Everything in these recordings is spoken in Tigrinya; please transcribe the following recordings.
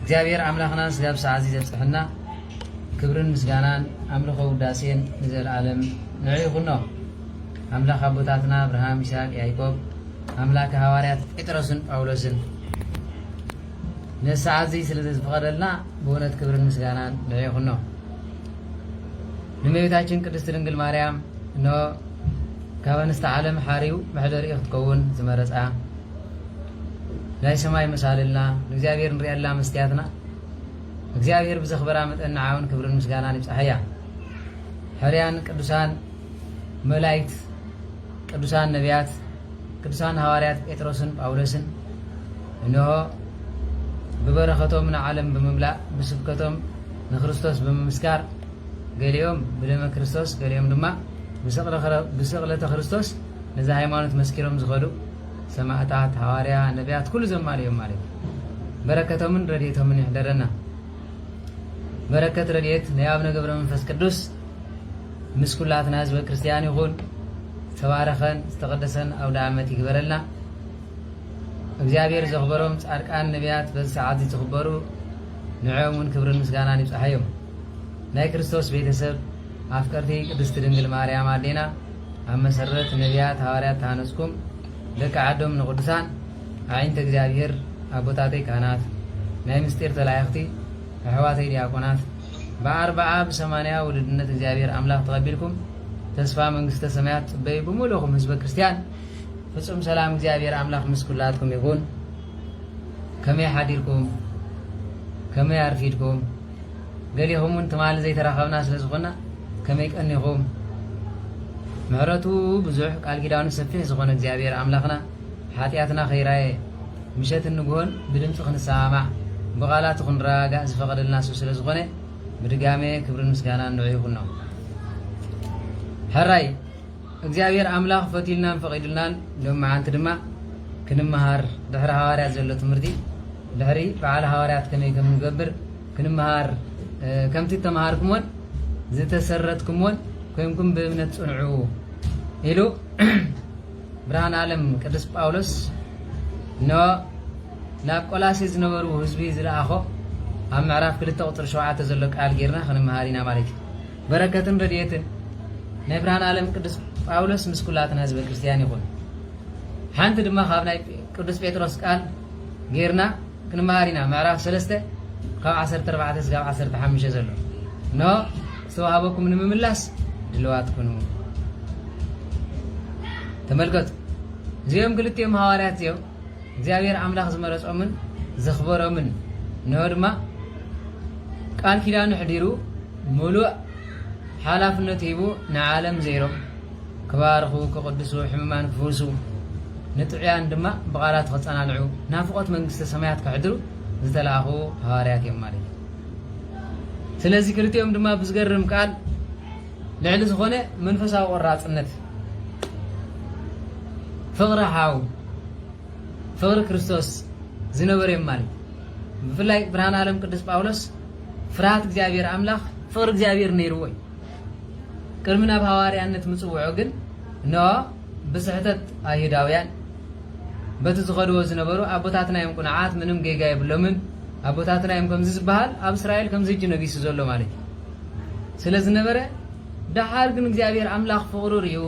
እግዚኣብሔር ኣምላኽና ስጋብ ሰዓዚ ዘብጽሐና ክብርን ምስጋናን ኣምልኾ ውዳሴን ንዘለዓለም ንዕ ይኹኖ ኣምላኽ ኣቦታትና ኣብርሃም ይስሐቅ ያይቆብ ኣምላክ ሃዋርያት ጴጥሮስን ጳውሎስን ነሰዓዚ ስለዘዝፍቐደልና ብእውነት ክብርን ምስጋናን ንዕ ይኹኖ ንመቤታችን ቅድስት ድንግል ማርያም እነ ካብ ኣንስተ ዓለም ሓሪው መሕደሪኡ ክትከውን ዝመረጻ ናይ ሰማይ መሳልልና ንእግዚኣብሔር ንርእየላ መስትያትና እግዚኣብሔር ብዘኽበራ መጠን ንዓውን ክብርን ምስጋናን ይብጻሕያ ሕርያን ቅዱሳን መላይክት ቅዱሳን ነቢያት ቅዱሳን ሃዋርያት ጴጥሮስን ጳውሎስን እንሆ ብበረኸቶም ንዓለም ብምምላእ ብስብከቶም ንክርስቶስ ብምምስካር ገሊኦም ብደመ ክርስቶስ ገሊኦም ድማ ብስቕለተ ክርስቶስ ነዚ ሃይማኖት መስኪሮም ዝኸዱ ሰማእታት ሃዋርያ ነብያት ኩሉ ዘማልእ እዮም ማለት እዩ በረከቶምን ረድኤቶምን ይሕደረና በረከት ረድኤት ናይ ኣብነ ገብረ መንፈስ ቅዱስ ምስ ኩላትና ህዝበ ክርስቲያን ይኹን ዝተባረኸን ዝተቀደሰን ኣውደ ዓመት ይግበረልና እግዚኣብሔር ዘኽበሮም ጻድቃን ነብያት በዚ ሰዓት እዚ ትኽበሩ ንዕኦም እውን ክብርን ምስጋናን ይብፅሓዮም ናይ ክርስቶስ ቤተሰብ ኣፍቀርቲ ቅድስቲ ድንግል ማርያም ኣዴና ኣብ መሰረት ነብያት ሃዋርያት ተሃነጽኩም ደቂ ዓዶም ንቅዱሳን ኣዒንተ እግዚኣብሔር ኣቦታተይ ካህናት ናይ ምስጢር ተላኢኽቲ ኣሕዋተይ ዲያቆናት ብኣርብዓ ብሰማንያ ውሉድነት እግዚኣብሔር ኣምላኽ ተቐቢልኩም ተስፋ መንግስተ ሰማያት ጽበዩ ብምሉእኹም ህዝበ ክርስቲያን ፍጹም ሰላም እግዚኣብሔር ኣምላኽ ምስ ኩላትኩም ይኹን ከመይ ሓዲርኩም ከመይ ኣርፊድኩም ገሊኹም ውን ትማሊ ዘይተራኸብና ስለ ዝኾና ከመይ ቀኒኹም ምሕረቱ ብዙሕ ቃል ኪዳኑ ሰፊሕ ዝኾነ እግዚኣብሔር ኣምላኽና ሓጢኣትና ከይራየ ምሸትን ንግሆን ብድምፂ ክንሰማማዕ ብቓላቱ ክንረጋጋእ ዝፈቐደልና ሱ ስለ ዝኾነ ብድጋሜ ክብርን ምስጋናን ንዑ ይኹኖ ሕራይ እግዚኣብሔር ኣምላኽ ፈትዩልናን ፈቒዱልናን ሎም መዓልቲ ድማ ክንመሃር ድሕሪ ሃዋርያት ዘሎ ትምህርቲ ድሕሪ በዓለ ሃዋርያት ከመይ ከም እንገብር ክንመሃር ከምቲ እተመሃርኩሞን ዝተሰረትኩሞን ኮይንኩም ብእምነት ጽንዑ ኢሉ ብርሃን ዓለም ቅዱስ ጳውሎስ ን ናብ ቆላሴ ዝነበሩ ህዝቢ ዝለኣኾ ኣብ ምዕራፍ ክልተ ቁፅሪ ሸውዓተ ዘሎ ቃል ጌርና ክንመሃር ኢና ማለት እዩ በረከትን ረድኤትን ናይ ብርሃን ዓለም ቅዱስ ጳውሎስ ምስ ኩላትና ህዝበ ክርስትያን ይኹን ሓንቲ ድማ ካብ ናይ ቅዱስ ጴጥሮስ ቃል ጌርና ክንመሃር ኢና ምዕራፍ ሰለስተ ካብ ዓሰርተ ኣርባዕተ ስጋብ ዓሰርተ ሓሙሽተ ዘሎ ን ዝተዋህበኩም ንምምላስ ድልዋት ኩኑ ተመልከቱ እዚኦም ክልቲኦም ሃዋርያት እዚኦም እግዚኣብሔር ኣምላኽ ዝመረጾምን ዘኽበሮምን እንሆ ድማ ቃል ኪዳኑ ሕዲሩ ሙሉእ ሓላፍነት ሂቡ ንዓለም ዘይሮም ክባርኹ ክቕድሱ ሕሙማን ክፍውሱ ንጥዑያን ድማ ብቓላት ክጸናንዑ ናፍቖት መንግስተ ሰማያት ከሕድሩ ዝተላእኹ ሃዋርያት እዮም ማለት እዩ። ስለዚ ክልቲኦም ድማ ብዝገርም ቃል ልዕሊ ዝኾነ መንፈሳዊ ቆራጽነት ፍቕሪ ሓው ፍቕሪ ክርስቶስ ዝነበሩ እዮም ማለት እዩ። ብፍላይ ብርሃን ዓለም ቅዱስ ጳውሎስ ፍርሃት እግዚኣብሔር ኣምላኽ ፍቕሪ እግዚኣብሔር ነይርዎ እዩ። ቅድሚ ናብ ሃዋርያነት ምጽውዑ ግን እነሆ ብስሕተት ኣይሁዳውያን በቲ ዝኸድዎ ዝነበሩ ኣቦታትና እዮም ቁኑዓት ምንም ጌጋ የብሎምን ኣቦታትና እዮም ከምዚ ዝበሃል ኣብ እስራኤል ከምዚ ሕጂ ነጊሱ ዘሎ ማለት እዩ ስለ ዝነበረ ደሓር ግን እግዚኣብሔር ኣምላኽ ፍቕሩ ርዩ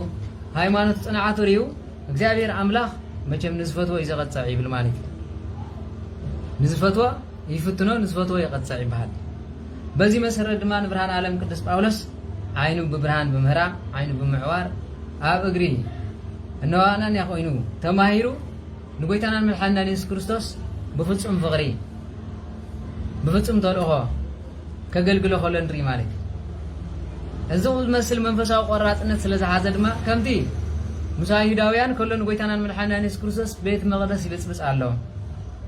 ሃይማኖት ጽንዓቱ ርዩ እግዚኣብሔር ኣምላኽ መቸም ንዝፈትዎ እዩ ዘቐጽዕ ይብል ማለት እዩ ንዝፈትዎ ይፍትኖ ንዝፈትዎ ይቐጽዕ ይበሃል። በዚ መሰረት ድማ ንብርሃን ኣለም ቅዱስ ጳውሎስ ዓይኑ ብብርሃን ብምህራም ዓይኑ ብምዕዋር ኣብ እግሪ እነሆ ኣናንያ ኮይኑ ተማሂሩ ንጎይታናን መድሓኒናን የሱስ ክርስቶስ ብፍጹም ፍቕሪ ብፍጹም ተልእኾ ከገልግሎ ከሎ ንርኢ ማለት እዩ። እዚ ዝመስል መንፈሳዊ ቆራጽነት ስለ ዝሓዘ ድማ ከምቲ ምስ ኣይሁዳውያን ከሎ ንጎይታናን መድሓኒናን የሱስ ክርስቶስ ቤት መቕደስ ይብጽብጽ ኣሎ፣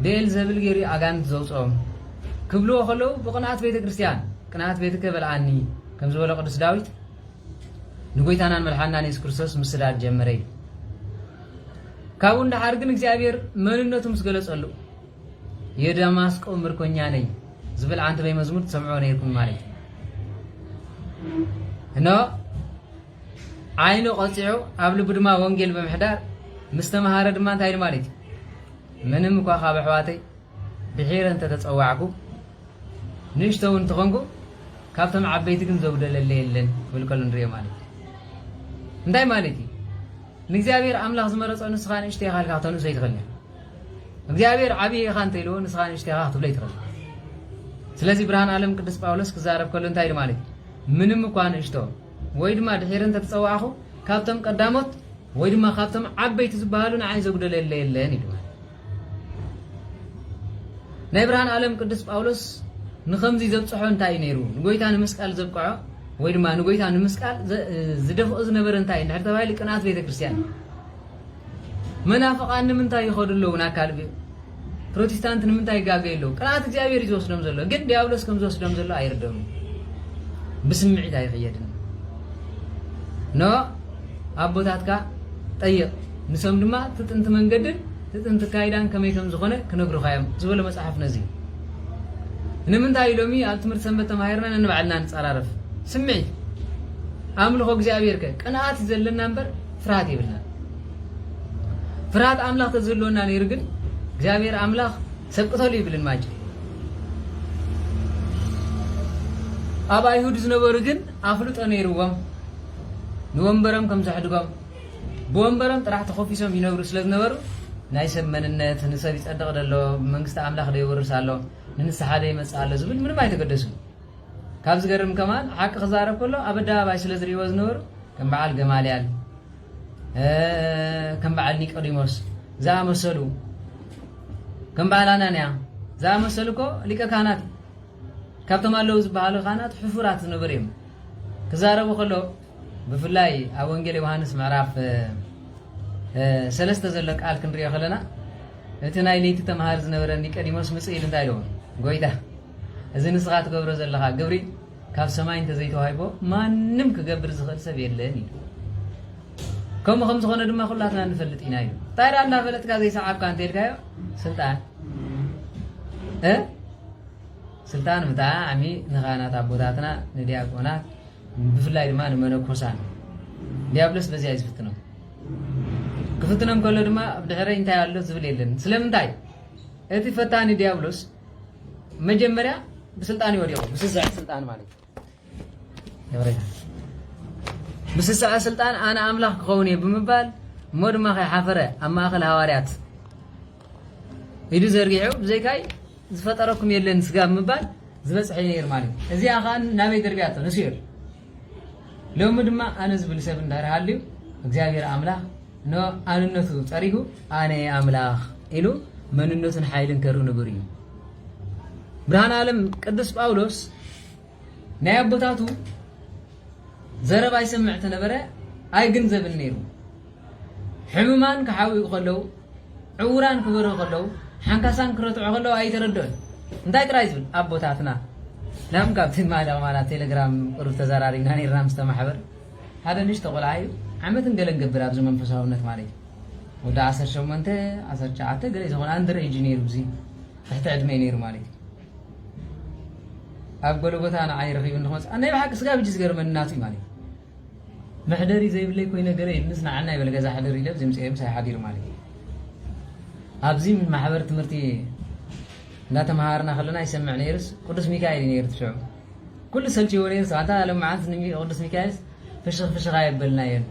ብኤል ዘብል ገይሩ እዩ ኣጋንንቲ ዘውጽኦም ክብልዎ ከለዉ ብቕንኣት ቤተ ክርስቲያን ቅንኣት ቤትከ በልዓኒ ከም ዝበሎ ቅዱስ ዳዊት ንጎይታናን መድሓኒናን የሱስ ክርስቶስ ምስዳድ ጀመረ እዩ። ካብኡ ንደሓር ግን እግዚኣብሔር መንነቱ ምስ ገለጸሉ የደማስቆ ምርኮኛ ነይ ዝብል ዓንተበይ መዝሙር ትሰምዕዎ ነይርኩም ማለት እዩ እኖ ዓይኑ ቆፂዑ ኣብ ልቢ ድማ ወንጌል ብምሕዳር ምስ ተምሃረ ድማ እንታይ ኢሉ ማለት እዩ ምንም እኳ ካብ ኣሕዋተይ ብሒረ እንተተፀዋዕኩ ንእሽቶ እውን እንትኾንኩ ካብቶም ዓበይቲ ግን ዘጉደለለ የለን ክብል ከሎ ንሪኦ ማለት እዩ እንታይ ማለት እዩ ንእግዚኣብሔር ኣምላኽ ዝመረፆ ንስኻ ንእሽቶ ኢኻ ኢልካ ክተንእሶ ኣይትኽእልን እግዚኣብሔር ዓብዪ ኢኻ እንተኢልዎ ንስኻ ንእሽቶ ኢኻ ክትብሎ ይትኽእል ስለዚ ብርሃን ዓለም ቅዱስ ጳውሎስ ክዛረብ ከሎ እንታይ ኢሉ ማለት እዩ ምንም እኳ ንእሽቶ ወይ ድማ ድሒር እንተተፀዋዕኹ ካብቶም ቀዳሞት ወይ ድማ ካብቶም ዓበይቲ ዝበሃሉ ንዓይ ዘጉደለ የለ የለን ኢሉ ናይ ብርሃን ዓለም ቅዱስ ጳውሎስ ንከምዚ ዘብፅሖ እንታይ እዩ ነይሩ ንጎይታ ንምስቃል ዘብቅዖ ወይ ድማ ንጎይታ ንምስቃል ዝደፍኦ ዝነበረ እንታይ እንድሕር ተባሂሉ ቅንኣት ቤተ ክርስቲያን መናፍቃን ንምንታይ ይኸዱ ኣለዉ ናብ ካልቪን? ፕሮቲስታንት ንምንታይ ይጋገዩ ኣለዉ? ቅንኣት እግዚኣብሔር እዩ ዝወስዶም ዘሎ፣ ግን ዲያብሎስ ከም ዝወስዶም ዘሎ ኣይርደኡን። ብስምዒት ኣይኽየድን። ኖ ኣቦታትካ ጠይቕ፣ ንሶም ድማ እቲ ጥንቲ መንገድን እቲ ጥንቲ ካይዳን ከመይ ከም ዝኾነ ክነግሩኻ እዮም ዝበሎ መጽሓፍ ነዚ እዩ። ንምንታይ ሎሚ ኣብ ትምህርቲ ሰንበት ተማሂርና ነንባዕልና ንጸራረፍ? ስምዒት ኣምልኾ እግዚኣብሔር ከ ቅንኣት እዩ ዘለና እምበር ፍርሃት የብልናን። ፍርሃት ኣምላኽ ተዝህልወና ነይሩ ግን እግዚኣብሔር ኣምላኽ ሰብ ቅተሉ ይብል ማጭ ኣብ ኣይሁድ ዝነበሩ ግን ኣፍልጦ ነይርዎም ንወንበሮም ከም ዘሕድጎም ብወንበሮም ጥራሕ ተኾፊሶም ይነብሩ ስለ ዝነበሩ ናይ ሰብ መንነት ንሰብ ይጸድቕ ደሎ መንግስቲ ኣምላኽ ደይወርስ ኣሎ ንንስሓ ደይመጽእ ኣሎ ዝብል ምንም ኣይተገደሱን ካብ ዝገርም ከማን ሓቂ ክዛረብ ከሎ ኣብ ኣደባባይ ስለ ዝርእይዎ ዝነበሩ ከም በዓል ገማልያል ከም በዓል ኒቆዲሞስ ዝኣመሰሉ ከም በዓል ኣናንያ ዝኣመሰሉ እኮ ሊቀ ካህናት ካብቶም ኣለዉ ዝበሃሉ ካህናት ሕፉራት ዝነበሩ እዮም ክዛረቡ ከሎ ብፍላይ ኣብ ወንጌል ዮሃንስ ምዕራፍ ሰለስተ ዘሎ ቃል ክንሪኦ ከለና እቲ ናይ ለይቲ ተምሃር ዝነበረ ኒቆዲሞስ ምጽእ ኢሉ እንታይ ኣለዎ ጎይታ እዚ ንስኻ ትገብሮ ዘለኻ ግብሪ ካብ ሰማይ እንተዘይተዋሂቦ ማንም ክገብር ዝኽእል ሰብ የለን ኢሉ። ከምኡ ከም ዝኾነ ድማ ኩላትና ንፈልጥ ኢና ኢሉ። እንታይ ደኣ እንዳፈለጥካ ዘይሰዓብካ እንተልካዮ ስልጣን እ ስልጣን ብጣዕሚ ንኻህናት ኣቦታትና ንዲያቆናት ብፍላይ ድማ ንመነኮሳን ዲያብሎስ በዚያ እዩ ዝፍትኖም ክፍትኖም ከሎ ድማ ኣብ ድሕረይ እንታይ ኣሎ ዝብል የለን ስለምንታይ እቲ ፈታኒ ዲያብሎስ መጀመርያ ብስልጣን እዩ ወዲቑ ምስስዐ ስልጣን ማለት ምስስዐ ስልጣን ኣነ ኣምላኽ ክኸውን እየ ብምባል እሞ ድማ ከይሓፈረ ኣብ ማእኸል ሃዋርያት ኢዱ ዘርጊሑ ብዘይካይ ዝፈጠረኩም የለን ስጋ ብምባል ዝበፅሐ ነይር ማለት እዩ እዚኣ ከዓ ናበይ ደርቢያቶ ንስዮል ሎሚ ድማ ኣነ ዝብል ሰብ እንድሕር ሃልዩ እግዚኣብሔር ኣምላኽ ንኣንነቱ ጸሪጉ ኣነ እየ ኣምላኽ ኢሉ መንነቱን ሓይልን ከርኢ ንቡር እዩ። ብርሃን ዓለም ቅዱስ ጳውሎስ ናይ ኣቦታቱ ዘረባ ይሰምዕ ተነበረ ኣይግንዘብን ነይሩ። ሕሙማን ክሓውዩ ከለዉ፣ ዕዉራን ክበርሁ ከለዉ፣ ሓንካሳን ክረትዑ ከለዉ ኣይተረድኦን። እንታይ ጥራይ ዝብል ኣቦታትና ናም ካብቲ ማዳ ቁማላ ቴለግራም ቅሩብ ተዛራሪብና ኔርና ምስተ ማሕበር ሓደ ንእሽቶ ቆልዓ እዩ ዓመትን ገለን ገብር ኣብዚ መንፈሳውነት ማለት እዩ ወዲ ዓሰርተ ሸሞንተ ዓሰርተ ትሽዓተ ገለ ዝኾነ ኣንድር ኤጅ ነይሩ እዚ ትሕቲ ዕድመ ነይሩ ማለት እዩ ኣብ ጎለጎታ ንዓይ ረኺቡ ንክመፅእ ናይ ብሓቂ ስጋብ ሕጂ ዝገርመኒ ናቱ እዩ ማለት እዩ መሕደሪ ዘይብለይ ኮይነ ገለ ኢልንስ ንዓና ይበል ገዛ ሕደር ኢለ ዘይምጸኤ ምሳይ ሓዲሩ ማለት እዩ። ኣብዚ ማሕበር ትምህርቲ እንዳተመሃርና ከለና ይሰምዕ ነይርስ ቅዱስ ሚካኤል እዩ ነይሩ ትሽዑ ኩሉ ሰልችዎ ነይርስ ኣንታ ሎምዓንቲ ንቅዱስ ሚካኤልስ ፍሽኽ ፍሽኽ ኣየበልናየን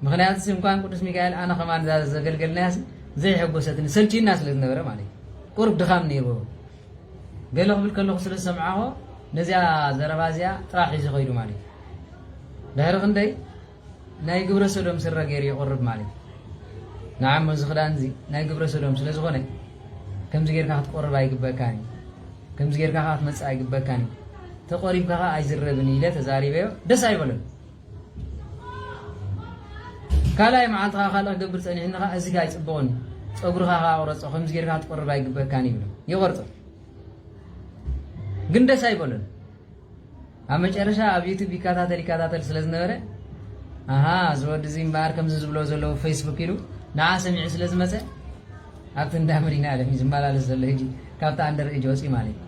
ምክንያቱስ እንኳን ቅዱስ ሚካኤል ኣነ ከማን ዘገልገልናያስ ዘይሐጎሰትኒ ሰልችዩና ስለ ዝነበረ ማለት እዩ ቁርብ ድኻም ነይርዎ ገለ ክብል ከለኹ ስለ ዝሰምዓኦ ነዚኣ ዘረባ እዚኣ ጥራሕ ሒዙ ከይዱ ማለት እዩ። ድሕሪ ክንደይ ናይ ግብረ ሰዶም ስረ ገይሩ ይቕርብ ማለት እዩ። ንዓሞ እዚ ክዳን እዚ ናይ ግብረ ሰዶም ስለ ዝኾነ ከምዚ ጌርካ ክትቆርብ ኣይግበካን እዩ ከምዚ ጌርካ ከዓ ክትመፅእ ኣይግበካን እዩ ተቆሪብካ ከዓ ኣይዝረብን ኢለ ተዛሪበዮ ደስ ኣይበለን ካልኣይ መዓልቲ ከኣ ካልእ ክገብር ጸኒሕኒ ከኣ እዚ ከኣ ኣይጽቡቕን እዩ ጸጉርኻ ከኣ ቁረጾ ከምዚ ጌርካ ክትቆርብ ኣይግበካን ይብሎ ይቆርጾ ግን ደስ ኣይበሎን ኣብ መጨረሻ ኣብ ዩቱብ ይከታተል ይከታተል ስለ ዝነበረ ኣሃ እዚ ወዲ እዚ እምበኣር ከምዚ ዝብሎ ዘለዉ ፌስቡክ ኢሉ ንዓ ሰሚዑ ስለ ዝመፀ ኣብቲ እንዳ መድሂኒኣለም እዩ ዝመላለስ ዘሎ ህጂ ካብቲ ኣንደር ኤጅ ወጺኡ ማለት እዩ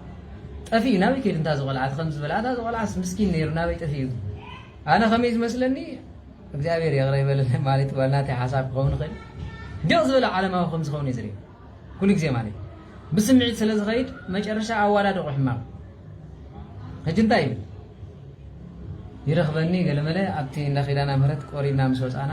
ጠፊኡ ናበይ ከይዱ እንታ እዚ ቆልዓ እቲ ከምዚ ዝበለ ኣታ እዚ ቆልዓስ ምስኪን ነይሩ ናበይ ጠፊኡ ግን ኣነ ከመይ ዝመስለኒ እግዚኣብሔር ይቕረ ይበለለይ ማለት ዋላ ናተይ ሓሳብ ክኸውን ይኽእል ድቕ ዝበለ ዓለማዊ ከም ዝኸውን እዩ ዝርኢ ኩሉ ግዜ ማለት እዩ ብስምዒት ስለ ዝኸይድ መጨረሻ ኣዋዳድቑ ሕማቕ ሕጂ እንታይ ይብል ይረኽበኒ ገለመለ ኣብቲ እንዳ ኪዳና ምህረት ቆሪብና ምስ ወፃና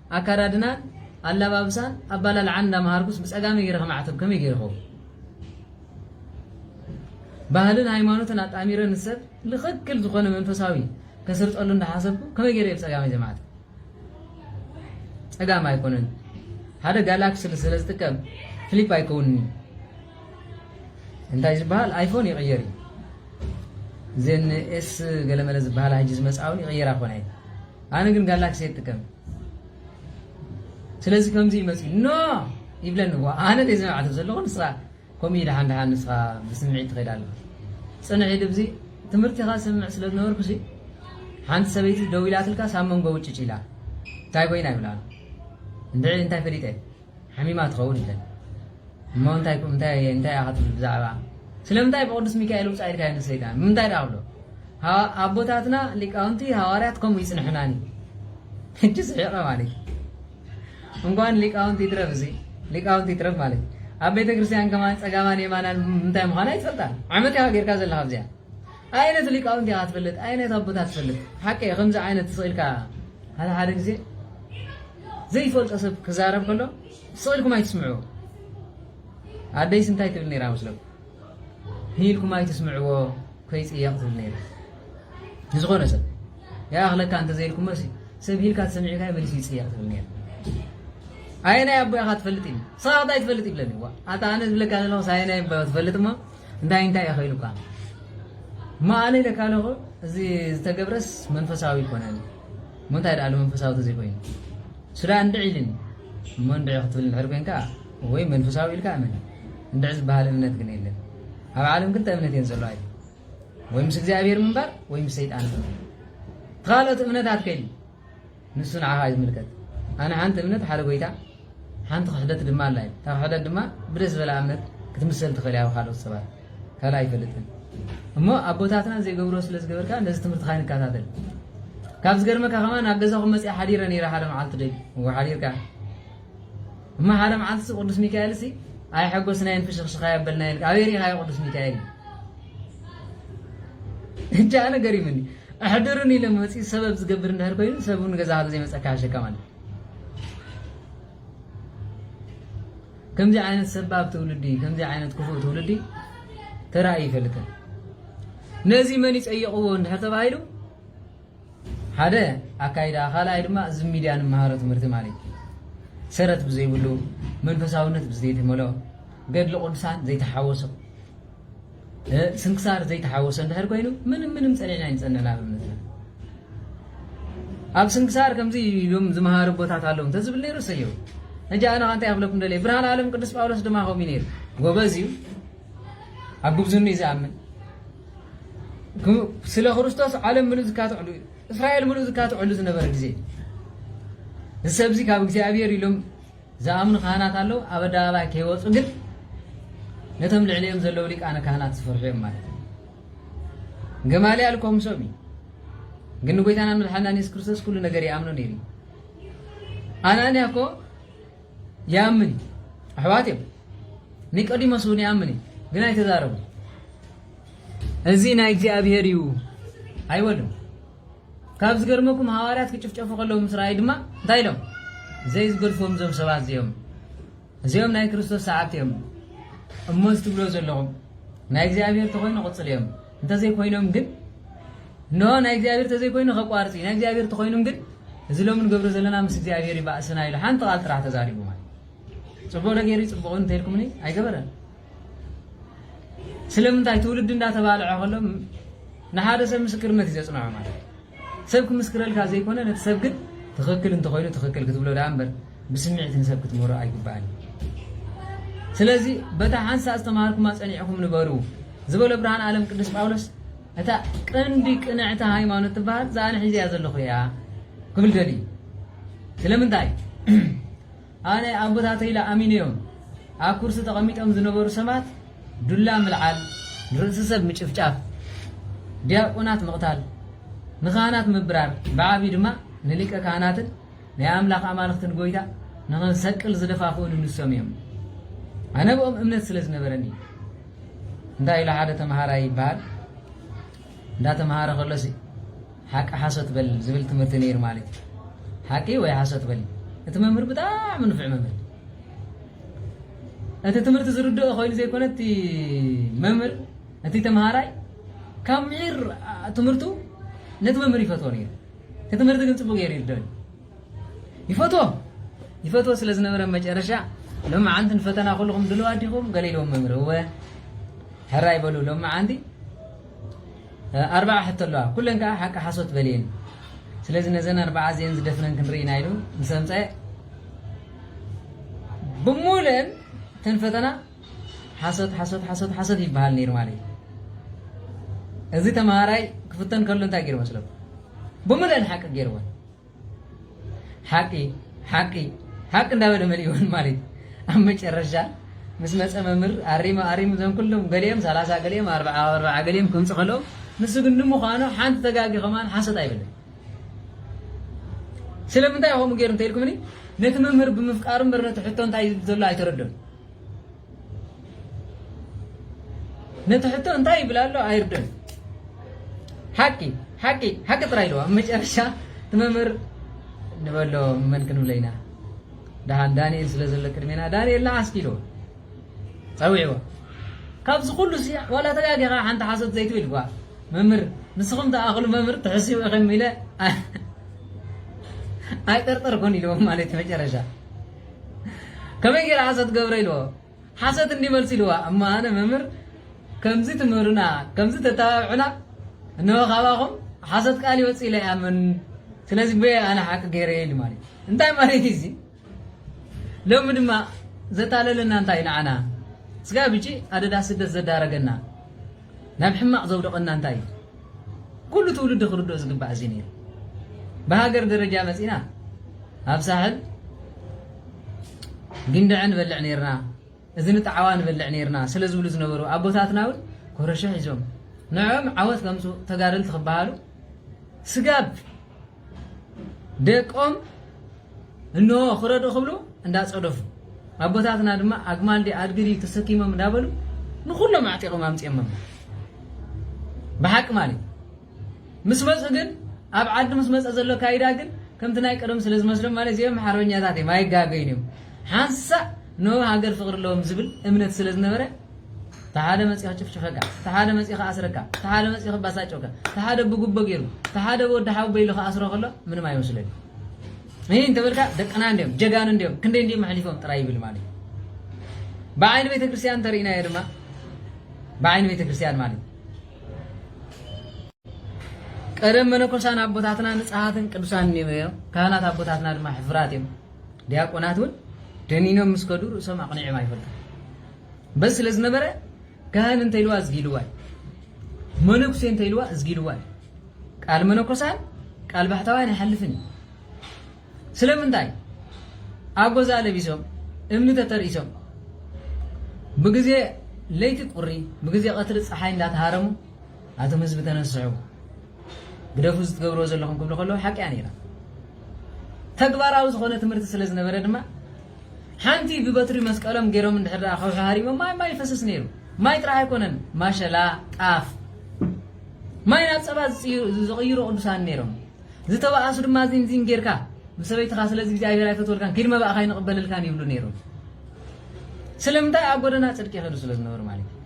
ኣካዳድናን ኣላባብሳን ኣባላልዓን እንዳመሃርኩስ ብጸጋመይ ጌረ ከማዕተብ ከመይ ጌረ ይኸውን ባህልን ሃይማኖትን ኣጣሚረ ንሰብ ልኽክል ዝኾነ መንፈሳዊ ከስርጸሉ እንዳሓሰብኩ ከመይ ጌረ ብጸጋመይ ዘማዕተብ ጸጋም ኣይኮነን ሓደ ጋላክሲ ስለ ዝጥቀም ፍሊፕ ኣይከውንኒ እንታይ ዝበሃል ኣይፎን ይቕየር እዩ እዘን ኤስ ገለመለ ዝበሃላ ሕጂ ዝመፅኣውን ይቕየራ ኮነ ኣነ ግን ጋላክሲ እየ ዝጥቀም ስለዚ ከምዚ እዩ መፅኡ ኖ ይብለኒ እኳ ኣነ ዘይ ዝመዕተ ዘለኹ ንስኻ ከምኡ እዩ ደሓን ደሓን ንስኻ ብስምዒት ትኸይድ ኣለኹ ፅንሕ ኢሉ ብዚ ትምህርቲኻ ስምዕ ስለ ዝነበርኩ ሲ ሓንቲ ሰበይቲ ደው ኢላትልካ ሳብ መንጎ ውጭጭ ኢላ እንታይ ኮይና ይብላ እንድዒ እንታይ ፈሊጠ ሓሚማ ትኸውን ኢለን እሞ እንታይ እኮ እንታይ እየ እንታይ ኢኻ ትብል ብዛዕባ ስለምንታይ ብቅዱስ ሚካኤል ውፃእ ኢልካዮ ንሰይጣን ብምንታይ ድኣ ክብሎ ኣቦታትና ሊቃውንቲ ሃዋርያት ከምኡ ይፅንሑናኒ ሕጂ ስሒቐ ማለት እንኳን ሊቃውንቲ ይትረፍ እዚ ሊቃውንቲ ይትረፍ ማለት ኣብ ቤተ ክርስቲያን ከማን ፀጋማን የማናን እንታይ ምዃና ይፈልጣል ዓመት ኢኻ ጌርካ ዘለካ ኣብዚኣ ኣይነት ሊቃውንቲ ኢኻ ትፈልጥ ኣይነት ኣቦታት ትፈልጥ ሓቂ ከምዚ ዓይነት ስኢልካ ሓደ ሓደ ግዜ ዘይፈልጦ ሰብ ክዛረብ ከሎ ስቕ ኢልኩም ኣይትስምዕዎ። ኣደይስ እንታይ ትብል ነይራ መስለኩም? ህይልኩም ኣይትስምዕዎ ከይጽየቕ ትብል ነይራ ንዝኾነ ሰብ ይኣኽለካ እንተዘይልኩም መሲ ሰብ ሂልካ ተሰሚዕካ መሊሱ ይጽየቕ ትብል ነይራ ኣየናይ ኣቦ ኢኻ ትፈልጥ ኢሉ ሰባት ኣይትፈልጥ ይብለኒ ዋ ኣታ ኣነ ዝብለካ ዘለኹስ ኣየናይ ኣቦ ትፈልጥ እሞ እንታይ እንታይ ኢኸ ኢሉካ እሞ ኣነ ኢለካ ኣለኹ እዚ ዝተገብረስ መንፈሳዊ ኣይኮነን እሞ እንታይ ድኣሉ መንፈሳዊ ተዘይኮይኑ ሱዳን እንድዒ ኢሊኒ እሞ እንድዒ ክትብል እንድሕር ኮንካ ወይ መንፈሳዊ ኢልካ እመን እንድዒ ዝበሃል እምነት ግን የለን ኣብ ዓለም ክልተ እምነት እየን ዘለዋ ኢሉ ወይ ምስ እግዚኣብሔር ምንባር ወይ ምስ ሰይጣን ምንባር ካልኦት እምነታት ከይሉ ንሱ ንዓኻ እዩ ዝምልከት ኣነ ሓንቲ እምነት ሓደ ጎይታ ሓንቲ ክሕደት ድማ ኣላ እዩ። እታ ክሕደት ድማ ብደስ ዝበላ እምነት ክትምሰል ትኽእል እያ ብካልኦት ሰባት ካልእ ኣይፈልጥን እሞ ኣቦታትና ዘይገብርዎ ስለ ዝገበርካ ነዚ ትምህርትኻ ይንከታተል ካብ ዝገርመካ ከማን ኣብ ገዛኹም መፅኣ ሓዲረ ነይረ ሓደ መዓልቲ ዶ እሞ ሓዲርካ እሞ ሓደ መዓልቲ ሲ ቅዱስ ሚካኤል ሲ ኣይሐጎስናየን ፍሽኽሽኻ የበልናየን ኣበይ ሪኢኻዮ ቅዱስ ሚካኤል እጃ ነገር ይምኒ ኣሕድሩን ኢለ መፂኡ ሰበብ ዝገብር እንድሕር ኮይኑ ሰብ እውን ገዛኻ ዘይመፀካ ሓሸካ ማለት ከምዚ ዓይነት ሰባብ ትውልዲ ከምዚ ዓይነት ክፉእ ትውልዲ ተራእዩ ይፈልጥን ነዚ መን ይፀየቕዎ እንድሕር ተባሂሉ ሓደ ኣካይዳ ካልኣይ ድማ እዚ ሚድያ ንመሃሮ ትምህርቲ ማለት እዩ ሰረት ብዘይብሉ መንፈሳውነት ብዘይተመልኦ ገድሊ ቅዱሳን ዘይተሓወሶ ስንክሳር ዘይተሓወሶ እንድሕር ኮይኑ ምንም ምንም ጸኒዕና ኣይንጸንዕን ኣብ እምነትና ኣብ ስንክሳር ከምዚ ኢሎም ዝመሃሩ ቦታት ኣለዉ እንተዝብል ነይሩ ሰየው ሕጂ ኣነ ከ እንታይ ክብለኩም ደልየ ብርሃን ዓለም ቅዱስ ጳውሎስ ድማ ከምኡ ነይሩ ጎበዝ እዩ ኣብ ጉብዝኑ እዩ ዝኣምን ስለ ክርስቶስ ዓለም ምሉእ ዝካትዕሉ እዩ እስራኤል ምሉእ ዝካትዕሉ ዝነበረ ግዜ እዚ ሰብዚ ካብ እግዚኣብሔር ኢሎም ዝኣምኑ ካህናት ኣለዉ፣ ኣብ ኣደባባይ ከይወጹ ግን ነቶም ልዕሊኦም ዘለዉ ሊቃነ ካህናት ዝፈርሑ እዮም ማለት እዩ። ገማልያል እኮ ምሶም እዩ፣ ግን ንጎይታናን መድሓናን የሱስ ክርስቶስ ኩሉ ነገር ይኣምኖ ነይሩ እዩ። ኣናንያ እኮ ይኣምን እዩ፣ ኣሕዋት እዮም። ኒቆዲሞስ እውን ይኣምን እዩ፣ ግን ኣይተዛረቡ። እዚ ናይ እግዚኣብሄር እዩ ኣይበሉን። ካብ ዝገርመኩም ሃዋርያት ክጭፍጨፉ ከለዉ ምስ ረኣዩ ድማ እንታይ ኢሎም? ዘይዝገድፍዎም እዞም ሰባት እዚኦም እዚኦም ናይ ክርስቶስ ሰዓብቲ እዮም እሞ እዚ ትብልዎ ዘለኹም ናይ እግዚኣብሔር ተኮይኑ ቅፅል እዮም እንተዘይኮይኖም ግን እንሆ ናይ እግዚኣብሔር ተዘይኮይኑ ከቋርፅ እዩ ናይ እግዚኣብሔር ተኮይኑም ግን እዚ ሎሚ ንገብሮ ዘለና ምስ እግዚኣብሔር ይባእስና ኢሉ ሓንቲ ቃል ጥራሕ ተዛሪቡ ማለት ፅቡቅ ነገር እዩ ፅቡቅ እንተይልኩምኒ ኣይገበረን ስለምንታይ ትውልዲ እንዳተባልዐ ከሎ ንሓደ ሰብ ምስክርነት እዩ ዘጽንዖ ማለት ሰብ ክምስክረልካ ዘይኮነ ነቲ ሰብ ግን ትኽክል እንተኾይኑ ትኽክል ክትብሎ ደኣ እምበር ብስምዒት ንሰብ ክትምህሮ ኣይግባእን ስለዚ በታ ሓንሳእ ዝተምሃርኩማ ጸኒዕኹም ንበሩ ዝበሎ ብርሃን ዓለም ቅዱስ ጳውሎስ እታ ቀንዲ ቅንዕቲ ሃይማኖት ትበሃል እዛ ኣነ ሒዘያ ዘለኹ እያ ክብል ደልዩ ስለምንታይ ኣነ ኣቦታተይ ኢለ ኣሚነዮም ኣብ ኩርሲ ተቐሚጦም ዝነበሩ ሰባት ዱላ ምልዓል፣ ንርእሲ ሰብ ምጭፍጫፍ፣ ዲያቆናት ምቕታል፣ ንካህናት ምብራር፣ ብዓቢኡ ድማ ንሊቀ ካህናትን ናይ ኣምላኽ ኣማልኽትን ጎይታ ንኸንሰቅል ዝደፋፍኡኒ ንሶም እዮም። ኣነ ብኦም እምነት ስለ ዝነበረኒ እዩ። እንታይ ኢሉ ሓደ ተመሃራይ ይበሃል። እንዳተመሃረ ከሎሲ ሓቂ ሓሶት በል ዝብል ትምህርቲ ነይሩ ማለት እዩ ሓቂ ወይ ሓሶት በል እቲ መምህር ብጣዕሚ ንፍዕ መምህር እቲ ትምህርቲ ዝርድኦ ኮይኑ ዘይኮነ እቲ መምህር እቲ ተምሃራይ ካብ ምሒር ትምህርቱ ነቲ መምህር ይፈትዎ ነይሩ እቲ ትምህርቲ ግን ፅቡቅ ገይሩ ይርድኦ ይፈትዎ ይፈትዎ ስለ ዝነበረ መጨረሻ ሎመዓንቲ ንፈተና ኩልኹም ድልዋት ዲኹም ገለ ኢልዎም መምህር እወ ሕራይ በሉ ሎመዓንቲ ኣርባዓ ሕቶ ኣለዋ ኩለን ከዓ ሓቂ ሓሶት በልየን ስለዚ ነዘን ኣርባዓ እዚአን ዝደፍነን ክንርኢ ኢና ኢሉ ምስ ኣምፀ ብሙሉእን እተን ፈተና ሓሶት ሓሶት ሓሶት ሓሶት ይበሃል ነይሩ ማለት እዩ እዚ ተምሃራይ ክፍተን ከሎ እንታይ ገይሩ መስለኩም ብሙሉእን ሓቂ ገይርዎን ሓቂ ሓቂ ሓቂ እንዳበለ መሊእወን ማለት ኣብ መጨረሻ ምስ መፀ መምህር ኣሪሙ ኣሪሙ ዘን ኩሎም ገሊኦም ሰላሳ ገሊኦም ኣርብዓ ኣብ ኣርብዓ ገሊኦም ከምፅ ከለዉ ንሱ ግን ንምዃኑ ሓንቲ ተጋጊ ከማን ሓሶት ኣይበለን ስለምንታይ ከምኡ ገይሩ እንተኢልኩምኒ ነቲ መምህር ብምፍቃሩ እምበር ነቲ ሕቶ እንታይ እዩ ዘሎ ኣይተረድኡን ነቲ ሕቶ እንታይ ይብል ኣሎ ኣይርድን ሓቂ ሓቂ ሓቂ ጥራይ ኣለዋ ኣብ መጨረሻ እቲ መምህር ንበሎ መን ክንብለ ኢና ደሃን ዳንኤል ስለ ዘሎ ቅድሜና ዳንኤል ንዓስኪ ኢልዎ ፀዊዕዎ ካብዚ ኩሉ ሲ ዋላ ተጋጊኻ ሓንቲ ሓሶት ዘይትብል ጓ መምህር ንስኹም ተኣኽሉ መምህር ትሕስቡ ኢኽም ኢለ ኣይጠርጠርኩን ኢልዎም ማለት መጨረሻ ከመይ ገይረ ሓሶት ገብረ ኢልዎ ሓሶት እንዲ መልሲ ኢልዋ እሞ ኣነ መምህር ከምዚ ትምህሩና ከምዚ ተተባብዑና እንሆ ካባኹም ሓሶት ቃል ይወፅ ኢለ ኣምን ስለዚ በየ ኣነ ሓቂ ገይረ ኢሉ ማለት እንታይ ማለት እዩ እዚ ሎሚ ድማ ዘታለለና እንታይ ንዓና ስጋ ብጂ ኣደዳ ስደት ዘዳረገና ናብ ሕማቕ ዘውደቐና እንታይ እዩ? ኩሉ ትውልዲ ክርድኦ ዝግባእ እዚ ነይሩ። ብሃገር ደረጃ መጺእና ኣብ ሳሕል ጊንደዐ ንበልዕ ነይርና፣ እዝኒ ጣዕዋ ንበልዕ ነይርና ስለ ዝብሉ ዝነበሩ ኣቦታትና እውን ኮረሸ ሒዞም ንዕኦም ዓወት ከምጽኡ ተጋደልቲ ክበሃሉ ስጋብ ደቆም እንሆ ክረዱ ክብሉ እንዳጸደፉ ኣቦታትና ድማ ኣግማል ዲ ኣድጊ ድዩ ተሰኪሞም እንዳበሉ ንኹሎም ኣዕጢቆም ኣምጺኦሞም ብሓቂ ማለት ምስ መጹ ግን ኣብ ዓዲ ምስ መጸ ዘሎ ካይዳ ግን ከምቲ ናይ ቀደም ስለ ዝመስሎም ማለት እዚኦም ሓርበኛታት እዮም ኣይጋገዩን እዮም ሓንሳእ ንሃገር ፍቅሪ ኣለዎም ዝብል እምነት ስለ ዝነበረ እቲ ሓደ መፂኡ ክጭፍጭፈካ፣ እቲ ሓደ መፂኡ ክኣስረካ፣ እቲ ሓደ መፂኡ ክባሳጨካ፣ እቲ ሓደ ብጉቦ ገይሩ፣ እቲ ሓደ ብወዲ ሓወቦ ኢሉ ክኣስሮ ከሎ ምንም ኣይመስሎን እዩ። እንተበልካ ደቅና እንዲዮም ጀጋኑ እንዲዮም ክንደይ እንዲዮም ኣሕሊፎም ጥራይ ይብል ማለት እዩ። ብዓይኒ ቤተ ክርስቲያን እንተርኢናዮ ድማ ብዓይኒ ቤተ ክርስቲያን ማለት ቀደም መነኮሳን ኣቦታትና ንፅሃትን ቅዱሳን እዮም። ካህናት ኣቦታትና ድማ ሕፍራት እዮም። ዲያቆናት እውን ደኒኖም ምስ ከዱ ርእሶም ኣቕኒዕም ኣይፈልጡን በዚ ስለ ዝነበረ ካህን እንተኢልዋ እዝጊልዋ እዩ መነኩሴ እንተኢልዋ እዝጊልዋ እዩ ቃል መነኮሳን ቃል ባሕታውያን ኣይሓልፍን እዩ ስለምንታይ ኣጎዛ ለቢሶም እምኒ ተተርኢሶም ብግዜ ለይቲ ቁሪ ብግዜ ቀትሪ ፀሓይ እንዳተሃረሙ ኣቶም ህዝቢ ተነስዑ ግደፉ እዚ ትገብርዎ ዘለኹም ክብሉ ከለዉ ሓቂ እያ ነይራ ተግባራዊ ዝኾነ ትምህርቲ ስለ ዝነበረ ድማ ሓንቲ ብበትሪ መስቀሎም ገይሮም እንድሕር ደኣ ከውሒ ሃሪሞም ማይ ማይ ይፈስስ ነይሩ ማይ ጥራሕ ኣይኮነን ማሸላ ጣፍ ማይ ናብ ፀባ ዝቕይሩ ቅዱሳን ነይሮም ዝተባኣሱ ድማ ዚንዚን ጌርካ ምስ ሰበይትኻ ስለዚ እግዚኣብሔር ኣይፈትወልካን ኪድ መባእኻ ይንቕበልልካን ይብሉ ነይሮም ስለምንታይ ኣብ ጎደና ፅድቂ ይኸዱ ስለ ዝነበሩ ማለት እዩ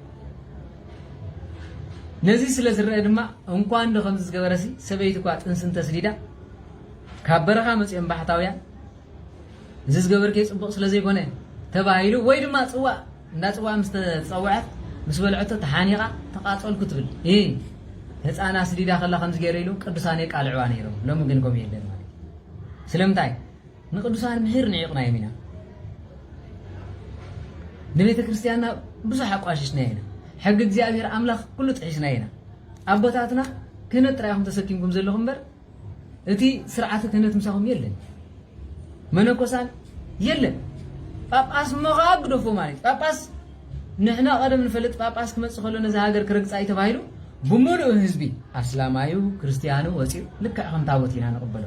ነዚ ስለ ዝረኣ ድማ እንኳ እንዶ ከምዚ ዝገበረሲ ሰበይቲ እኳ ጥንሲ እንተስዲዳ ካብ በረኻ መፅኦም ባሕታውያን እዚ ዝገበርክዮ ፅቡቕ ስለ ዘይኮነ ተባሂሉ ወይ ድማ ፅዋእ እንዳ ፅዋእ ምስ ተፀውዐት ምስ በልዐቶ ተሓኒቓ ተቓፀልኩ ትብል እ ህፃን ኣስዲዳ ከላ ከምዚ ገይረ ኢሉ ቅዱሳን የቃልዕዋ ነይሮም ሎሚ ግን ከምኡ የለን ማለት እዩ ስለምንታይ ንቅዱሳን ምህር ንዒቕናዮም ኢና ንቤተ ክርስቲያንና ብዙሕ ኣቋሽሽናዮ ኢና ሕጊ እግዚኣብሔር ኣምላኽ ኩሉ ጥሒስናዮ ኢና ኣቦታትና ክህነት ጥራይ ኢኹም ተሰኪምኩም ዘለኹም እምበር እቲ ስርዓተ ክህነት ምሳኹም የለን መነኮሳን የለን ጳጳስ እሞ ከዓ ግደፎ ማለት እዩ ጳጳስ ንሕና ቀደም ንፈልጥ ጳጳስ ክመፅእ ከሎ ነዚ ሃገር ክረግፃ እዩ ተባሂሉ ብምሉእ ህዝቢ ኣስላማዩ ክርስትያኑ ወፂኡ ልክዕ ከም ታቦት ኢና ንቕበሎ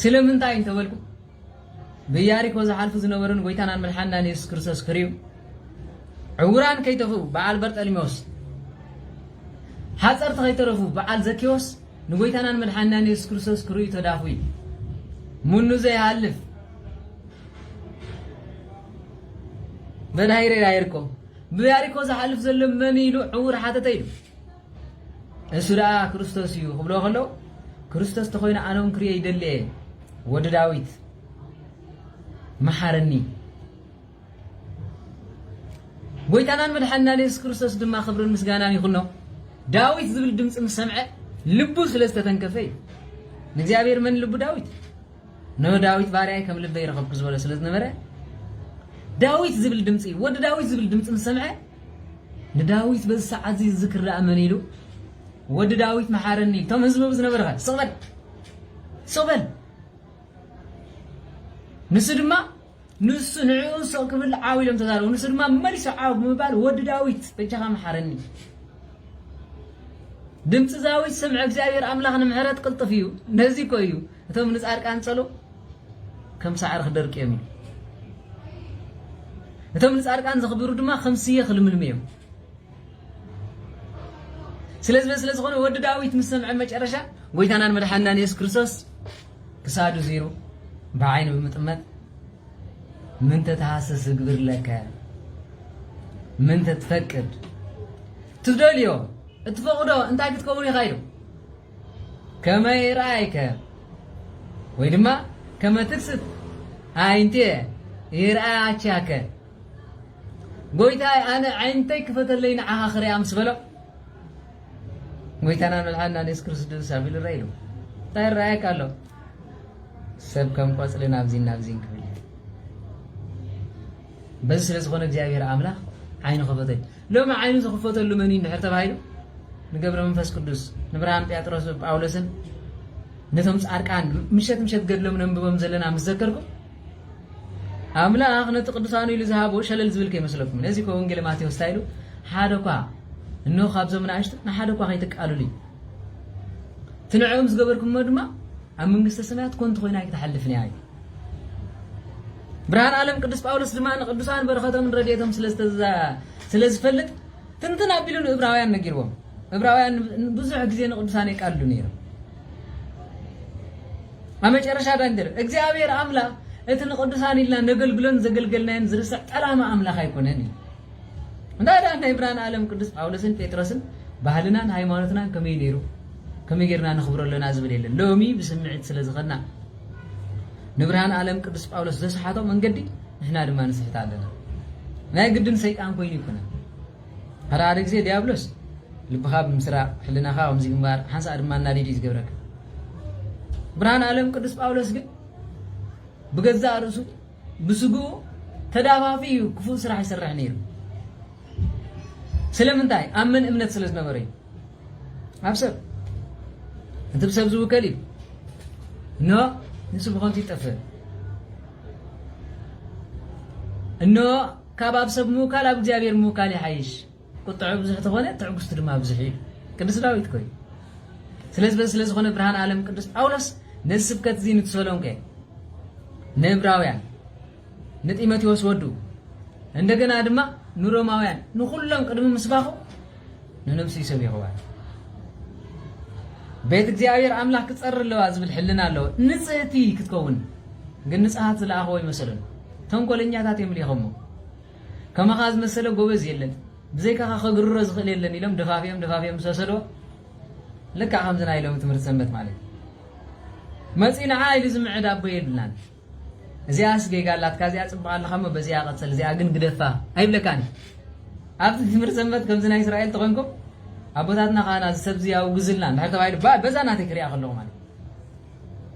ስለምንታይ እንተ በልኩም ብያሪኮ ዝሓልፉ ዝነበሩን ጎይታናን መድሓንናን የሱስ ክርስቶስ ክሪኡ ዕውራን ከይተፍኡ በዓል በርጠልሜዎስ ሓፀርቲ ከይተረፉ በዓል ዘኬዎስ ንጎይታናን መድሓንናን የሱስ ክርስቶስ ክሪኡ ተዳፉ እዩ ምኑ ዘይሃልፍ በዳሂረ ያይርኮ ብያሪኮ ዝሓልፍ ዘሎ መን ኢሉ ዕውር ሓተተ ኢሉ እሱ ደኣ ክርስቶስ እዩ ክብሎ ከሎ ክርስቶስ ተኮይኑ ኣነውን ክርዮ ይደሊ እየ ወዲ ዳዊት መሓረኒ ጎይታናን መድሓንናን የሱስ ክርስቶስ ድማ ክብርን ምስጋናን ይኹኖ ዳዊት ዝብል ድምፂ ምስ ሰምዐ ልቡ ስለ ዝተተንከፈ እዩ ንእግዚኣብሔር መን ልቡ ዳዊት ንዳዊት ባርያይ ከም ልበይ ረኸብኩ ዝበሎ ስለ ዝነበረ ዳዊት ዝብል ድምፂ ወዲ ዳዊት ዝብል ድምፂ ምስ ሰምዐ ንዳዊት በዚ ሰዓት እዚ ዝዝክር ደኣ መን ኢሉ ወዲ ዳዊት መሓረኒ እቶም ህዝቢ ዝነበርኸ ስቕበል ስቕበል ንሱ ድማ ንሱ ንዕኡ ስቕ ክብል ዓው ኢሎም ተዛረቡ። ንሱ ድማ መሊሱ ዓው ብምባል ወዲ ዳዊት በጃኻ መሓረኒ። ድምፂ ዛዊት ስምዕ እግዚኣብሔር ኣምላኽ ንምሕረት ቅልጥፍ እዩ። ነዚ እኮ እዩ እቶም ንጻድቃን ጸሎ ከም ሳዕሪ ክደርቅ እዮም እዩ እቶም ንጻድቃን ዘኽብሩ ድማ ከም ስየ ክልምልሙ እዮም ስለዚ ስለ ዝኾነ ወዲ ዳዊት ምስ ሰምዐ መጨረሻ ጎይታናን መድሓንናን የሱስ ክርስቶስ ክሳዱ ዚሩ ብዓይኑ ብምጥመት ምንተ ተሃሰስ እግብር ለከ ምንተ ትፈቅድ ትደልዮ እትፈቕዶ እንታይ ክትከውን ኢኻ ኢሉ ከመይ ርኣይከ ወይ ድማ ከመ ትክስት ኣይንቴ ይርኣያቻከ ጎይታይ ኣነ ዓይንተይ ክፈተለይ ንዓኻ ክሪኣ ምስ በሎ ጎይታናን መድሓንናን የሱስ ክርስቶስ ኣብ ኢሉ ረኢሉ እንታይ ይረኣየካ ኣሎ ሰብ ከም ቆፅሊ ናብዚን ናብዚን ክብል እዩ በዚ ስለ ዝኾነ እግዚኣብሔር ኣምላኽ ዓይኑ ከፈተሉ ሎሚ ዓይኑ ዝኽፈተሉ መን እዩ እንድሕር ተባሂሉ ንገብረ መንፈስ ቅዱስ ንብርሃን ጴጥሮስ ጳውሎስን ነቶም ጻድቃን ምሸት ምሸት ገድሎም ነንብቦም ዘለና ምስ ዘከርኩም ኣምላኽ ነቲ ቅዱሳኑ ኢሉ ዝሃቦ ሸለል ዝብል ከይመስለኩም። ነዚ እኮ ወንጌለ ማቴዎስ እንታይ ኢሉ? ሓደ እኳ እነሆ ካብዞም ንኣሽቱ ንሓደ እኳ ከይትቃሉሉ እዩ። እቲ ንዕኦም ዝገበርኩሞ ድማ ኣብ መንግስተ ሰማያት ኮንቱ ኮይና ኣይክትሓልፍን እያ እዩ። ብርሃን ዓለም ቅዱስ ጳውሎስ ድማ ንቅዱሳን በረኸቶምን ረድኤቶም ስለ ዝፈልጥ ትንትን ኣቢሉ ንእብራውያን ነጊርዎም። እብራውያን ብዙሕ ግዜ ንቅዱሳን የቃልሉ ነይሮም። ኣብ መጨረሻ ዳንግር እግዚኣብሔር ኣምላኽ እቲ ንቅዱሳን ኢልና ነገልግሎን ዘገልገልናዮን ዝርስዕ ጠላማ ኣምላኽ ኣይኮነን እዩ እንታይ ደኣ ናይ ብርሃን ዓለም ቅዱስ ጳውሎስን ጴጥሮስን ባህልናን ሃይማኖትናን ከመይ ነይሩ ከመይ ጌርና ነኽብሮ ኣለና ዝብል የለን ሎሚ ብስምዒት ስለ ዝኸና ንብርሃን ዓለም ቅዱስ ጳውሎስ ዘስሓቶ መንገዲ ንሕና ድማ ንስሕት ኣለና ናይ ግድን ሰይጣን ኮይኑ ይኩነ ኣረ ሓደ ግዜ ድያብሎስ ልብኻ ብምስራቕ ሕልናኻ ከምዚ ግንባር ሓንሳእ ድማ እናዲድ እዩ ዝገብረካ። ብርሃን ኣለም ቅዱስ ጳውሎስ ግን ብገዛእ ርእሱ ብስግኡ ተዳፋፊ እዩ ክፉእ ስራሕ ይሰርሕ ነይሩ። ስለምንታይ ኣብ መን እምነት ስለ ዝነበረ እዩ ኣብ ሰብ እቲ ብሰብ ዝውከል እዩ እኖ ንሱ ብኸንቱ ይጠፍእ እኖ ካብ ኣብ ሰብ ምውካል ኣብ እግዚኣብሔር ምውካል ይሓይሽ ቁጥዐኡ ብዙሕ ተኾነ ትዕግስቱ ድማ ብዙሕ እዩ ኢሉ ቅዱስ ዳዊት እኮ እዩ ስለዚ በዚ ስለዝኾነ ብርሃን ዓለም ቅዱስ ጳውሎስ ነዚ ስብከት እዚ ንተሰሎንቄ ንእብራውያን ንጢሞቴዎስ ወዱ እንደገና ድማ ንሮማውያን ንኹሎም ቅድሚ ምስባኹ ንነብሱ ይሰቢኽዋ ቤት እግዚኣብሔር ኣምላኽ ክጸሪ ኣለዋ ዝብል ሕልና ኣለዎ ንጽህቲ ክትከውን ግን ንጽሃት ዝለኣኸዎ ይመሰለሉ ተንኮለኛታት እዮም ሊኸሞ ከማኻ ዝመሰለ ጎበዝ የለን ብዘይካኻ ከግርሮ ዝኽእል የለን ኢሎም ደፋፊኦም ደፋፊኦም ምስ ወሰድዎ ልክዕ ከምዚ ናይ ሎሚ ትምህርቲ ሰንበት ማለት እዩ መፂ ንዓ ኢሉ ዝምዕድ ኣቦ የብልናን እዚኣስ ጌጋ ኣላትካ እዚኣ ፅቡቅ ኣለካ እሞ በዚኣ ቀፅል እዚኣ ግን ግደፋ ኣይብለካን ኣብዚ ትምህርቲ ሰንበት ከምዚ ናይ እስራኤል ተኮንኩም ኣቦታትና ካህና እዚ ሰብ እዚ ኣውግዝልና እንድሕር ተባሂሉ በዛ ናተይ ክሪኣ ከለኹ ማለት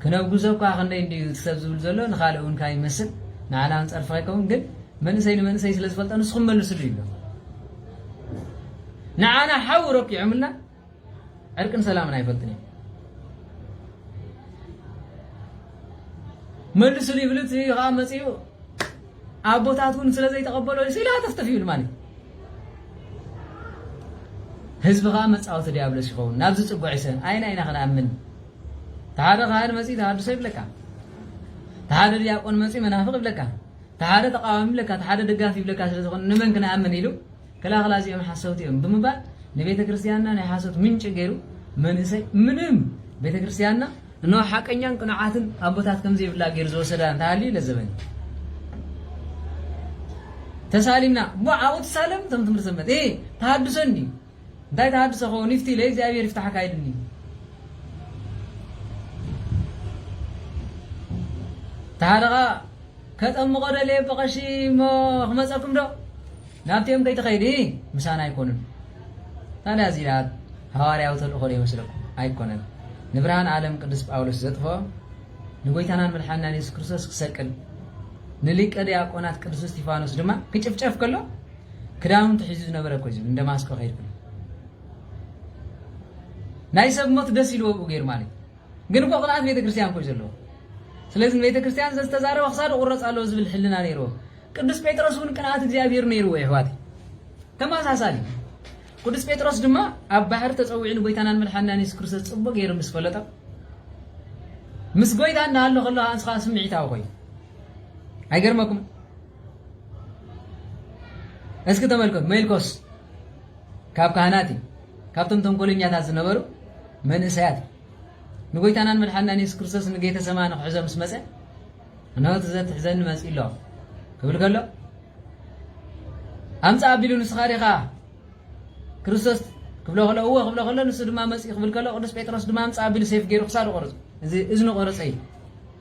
ክነውግዞ እኳ ክንደይ እንድዩ እቲ ሰብ ዝብል ዘሎ ንካልእ እውን ካይ መስል ንዓና እውን ጸርፊ ከይከውን ግን መንእሰይ ንመንእሰይ ስለ ዝፈልጦ ንስኹም መልስሉ ይብሎ ንዓና ሓዊ ረኪዖምልና ዕርቅን ሰላምን ኣይፈልጥን እዩ መልስሉ ይብል እቲ ከዓ መፅኡ ኣቦታት እውን ስለ ዘይተቐበሎ ሲላ ተፍተፍ ይብል ማለት ህዝቢ ከዓ መፃወቲ ዲያብሎስ ይኸውን ናብዚ ፅጉዕ ይሰን ኣይና ኢና ክንኣምን እቲ ሓደ ካህን መጺኡ ተሃድሶ ይብለካ፣ እቲ ሓደ ዲያቆን መጺኡ መናፍቕ ይብለካ፣ እቲ ሓደ ተቃዋሚ ይብለካ፣ እቲ ሓደ ደጋፊ ይብለካ ስለ ዝኾነ ንመን ክንኣምን ኢሉ ክላኽላ እዚኦም ሓሰውቲ እዮም ብምባል ንቤተ ክርስቲያንና ናይ ሓሶት ምንጪ ገይሩ መንእሰይ ምንም ቤተ ክርስቲያንና እነሆ ሓቀኛን ቅኑዓትን ኣቦታት ከም ዘይብላ ገይሩ ዝወሰዳ እንተሃልዩ ለዘበኒ ተሳሊምና እሞ ኣብኡ ትሳለም እቶም ትምህርቲ ዘመት ተሃድሶ እንዲ እንታይ ተሃድሶ ከውን ይፍቲ ኢለ እግዚኣብሔር ይፍታሓካ ኢሉኒ እዩ ተሃለኻ ከጠምቆ ደልየ ብቐሺ እሞ ክመፀኩም ዶ ናብቲኦም ከይትኸይዲ ምሳና ኣይኮኑን ታዲያ እዚኣ ሃዋርያዊ ተልእኮ ዶ ይመስለኩም ኣይኮነን ንብርሃን ዓለም ቅዱስ ጳውሎስ ዘጥፎ ንጎይታናን መድሓንናን የሱስ ክርስቶስ ክሰቅል ንሊቀ ዲያቆናት ቅዱስ እስጢፋኖስ ድማ ክጭፍጨፍ ከሎ ክዳውንቲ ሒዙ ዝነበረ እኮ ዝብል እንደ ማስቆ ከይድኩ ናይ ሰብ ሞት ደስ ኢልዎ ብኡ ገይሩ ማለት ግን እኮ ቅንኣት ቤተክርስትያን ኮዩ ዘለዎ ስለዚ ንቤተክርስትያን ዘዝተዛረበ ክሳዱ ቁረፅ ኣለዎ ዝብል ሕልና ነይርዎ ቅዱስ ጴጥሮስ እውን ቅንኣት እግዚኣብሔር ነይርዎ ይሕዋት ተመሳሳሊ ቅዱስ ጴጥሮስ ድማ ኣብ ባሕሪ ተፀዊዑ ንጎይታናን መድሓንናን የሱስ ክርስቶስ ፅቡቅ ገይሩ ምስ ፈለጦ ምስ ጎይታ እንዳሃሎ ከሎ ኣንስኻ ስምዒታዊ ኮይኑ ኣይገርመኩም እስኪ ተመልከቱ ሜልኮስ ካብ ካህናት እዩ ካብቶም ተንኮለኛታት ዝነበሩ መንእሰያት ንጎይታናን መድሓናን የሱስ ክርስቶስ ንጌተ ሰማኒ ክሕዞ ምስ መፀ እነሆ ዘትሕዘኒ መፅ ኣሎ ክብል ከሎ ኣምፃ ኣቢሉ ንስኻ ዲኻ ክርስቶስ ክብሎ ከሎ እወ ክብሎ ከሎ ንሱ ድማ መፅ ክብል ከሎ ቅዱስ ጴጥሮስ ድማ ኣምፃ ኣቢሉ ሴፍ ገይሩ ክሳዱ ቆርፁ እዚ እዝኒ ቆረፀ እዩ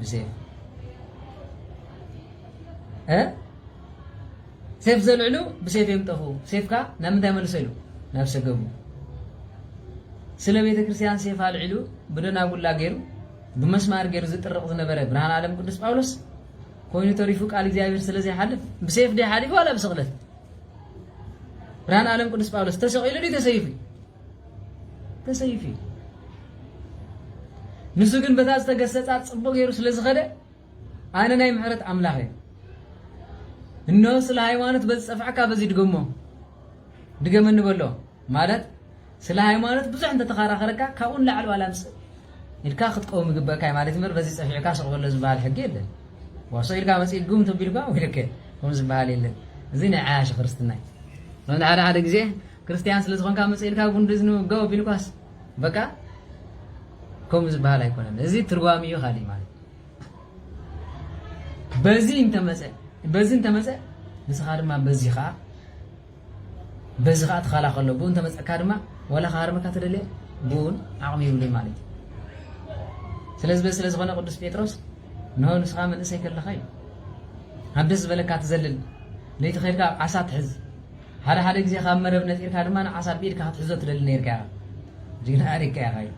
ብሴፍ ሴፍ ዘልዕሉ ብሴፍ እዮም ጠፍኡ። ሴፍካ ናብ ምንታይ መልሶ ኢሉ ናብ ሰገቡ ስለ ቤተ ክርስቲያን ሴፍ ኣልዒሉ ብደናጉላ ገይሩ ብመስማር ገይሩ ዝጥርቕ ዝነበረ ብርሃን ዓለም ቅዱስ ጳውሎስ ኮይኑ ተሪፉ ቃል እግዚኣብሔር ስለ ዘይሓልፍ ብሴፍ ዲ ሓሊፉ ዋላ ብስቕለት ብርሃን ዓለም ቅዱስ ጳውሎስ ተሰቒሉ ዲ ተሰይፉ ተሰይፍ እዩ ንሱ ግን በታ ዝተገሰጻ ጽቡቅ ገይሩ ስለ ዝኸደ ኣነ ናይ ምሕረት ኣምላኽ እየ እነሆ ስለ ሃይማኖት በዚ ጸፍዕካ በዚ ድገሞ ድገመ ንበሎ ማለት ስለ ሃይማኖት ብዙሕ እንተተኸራኸረካ ካብኡ ንላዕሊ ዋላ ምስ ኢልካ ክትቀውም ይግበእካ እዩ ማለት እምበር በዚ ጸፊዕካ ስቕ በሎ ዝበሃል ሕጊ የለን ዋሶ ኢልካ መጽኢ ግም ተቢልካ ወይልከ ከም ዝበሃል የለን እዚ ናይ ዓያሺ ክርስትና እዩ ሓደ ሓደ ግዜ ክርስትያን ስለ ዝኾንካ መጽ ኢልካ ጉንዲ እዝኒ ውግእ ኣቢልኳስ በቃ ከምኡ ዝበሃል ኣይኮነን። እዚ ትርጓሚኡ ካልእ ማለት በዚ እንተመጸ በዚ እንተመጸ ንስኻ ድማ በዚ ከዓ በዚ ከዓ ትኸላኸሎ ብኡ እንተመፀካ ድማ ወላ ክሃርመካ ትደልየ ብኡን ዓቕሚ ይብሉን ማለት እዩ ስለዚ በዚ ስለዝኾነ ቅዱስ ጴጥሮስ ንሆ ንስኻ መንእሰይ ከለኻ እዩ ኣብ ደስ ዝበለካ ትዘልል ለይቲ ኸይድካ ዓሳ ትሕዝ ሓደ ሓደ ግዜ ካብ መረብ ነጺርካ ድማ ዓሳ ብኢድካ ክትሕዞ ትደሊ ነይርካ ኢኻ። ጅግና ኣሪካ ኢኻ ኢሉ።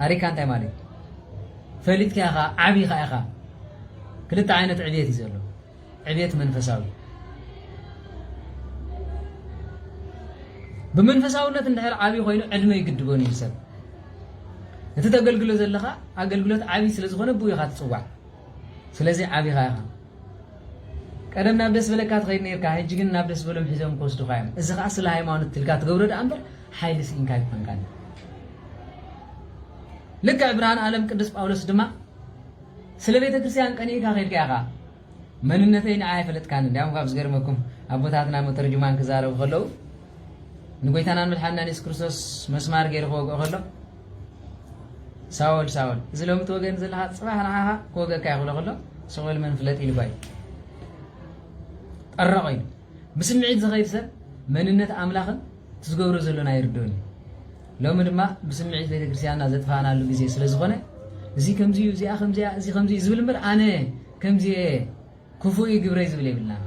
ኣሪካ እንታይ ማለት እዩ? ፈሊጥካ ኢኻ፣ ዓቢኻ ኢኻ። ክልተ ዓይነት ዕብየት እዩ ዘሎ። ዕብየት መንፈሳዊ ብመንፈሳውነት እንድሕር ዓብዪ ኮይኑ ዕድመ ይግድቦን እዩ ሰብ እቲ ተገልግሎ ዘለኻ ኣገልግሎት ዓብዪ ስለ ዝኾነ ብኡ ኢኻ ትፅዋዕ ስለዚ ዓብኻ ኢኻ ቀደም ናብ ደስ ዝበለካ ትኸይድ ኔርካ ሕጂ ግን ናብ ደስ ዝበሎም ሒዞም ክወስዱኻ እዮም እዚ ከኣ ስለ ሃይማኖት ትልካ ትገብሮ ደኣ እምበር ሓይሊ ስኢንካ ኣይኮንካን እዩ ልክዕ ብርሃን ኣለም ቅዱስ ጳውሎስ ድማ ስለ ቤተ ክርስቲያን ቀኒእካ ከድካ ኢኻ መንነተይ ንዓ ኣይፈለጥካን እንዲያውም ካብ ዝገርመኩም ኣቦታትና መተርጅማን ክዛረቡ ከለዉ ንጎይታናን መድሓንናን የሱስ ክርስቶስ መስማር ገይሩ ክወግኦ ከሎ ሳወል ሳወል እዚ ሎሚ ትወገን ዘለካ ፅባሕ ንዓኻ ክወገካ ይኽእሎ ከሎ ስቑል መን ፍለጥ ኢልባ እዩ ጠረቐ እዩ ብስምዒት ዝኸይድ ሰብ መንነት ኣምላኽን ትዝገብሮ ዘሎና ይርድኡን እዩ ሎሚ ድማ ብስምዒት ቤተክርስትያንና ዘጥፋእናሉ ግዜ ስለ ዝኾነ እዚ ከምዚ እዚኣ ከምዚኣ እዚ ከምዚ ዝብል እምበር ኣነ ከምዚ ክፉእ እዩ ግብረይ ዝብል የብልናን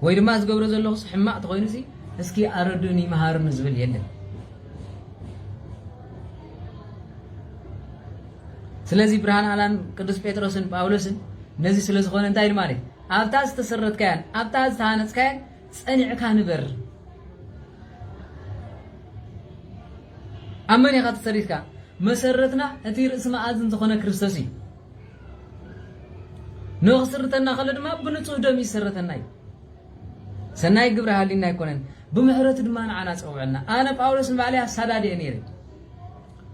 ወይ ድማ ዝገብሮ ዘለኹስ ሕማቅ ተኾይኑሲ እስኪ ኣረዱኒ መሃሩኒ ዝብል የለን ስለዚ ብርሃን ኣላን ቅዱስ ጴጥሮስን ጳውሎስን ነዚ ስለ ዝኾነ እንታይ ማለት ኣብታ ዝተሰረትካያን ኣብታ ዝተሃነጽካያን ጸኒዕካ ንበር ኣብ መን ኢኻ ተሰሪትካ መሰረትና እቲ ርእሲ መኣዝን ዝኾነ ክርስቶስ እዩ ንክስርተና ከሎ ድማ ብንጹህ ደም ይሰረተና እዩ ሰናይ ግብሪ ሃሊና ኣይኮነን ብምሕረቱ ድማ ንዓና ጸውዐና ኣነ ጳውሎስ ንባዕለይ ኣሳዳድ እየ ነይረ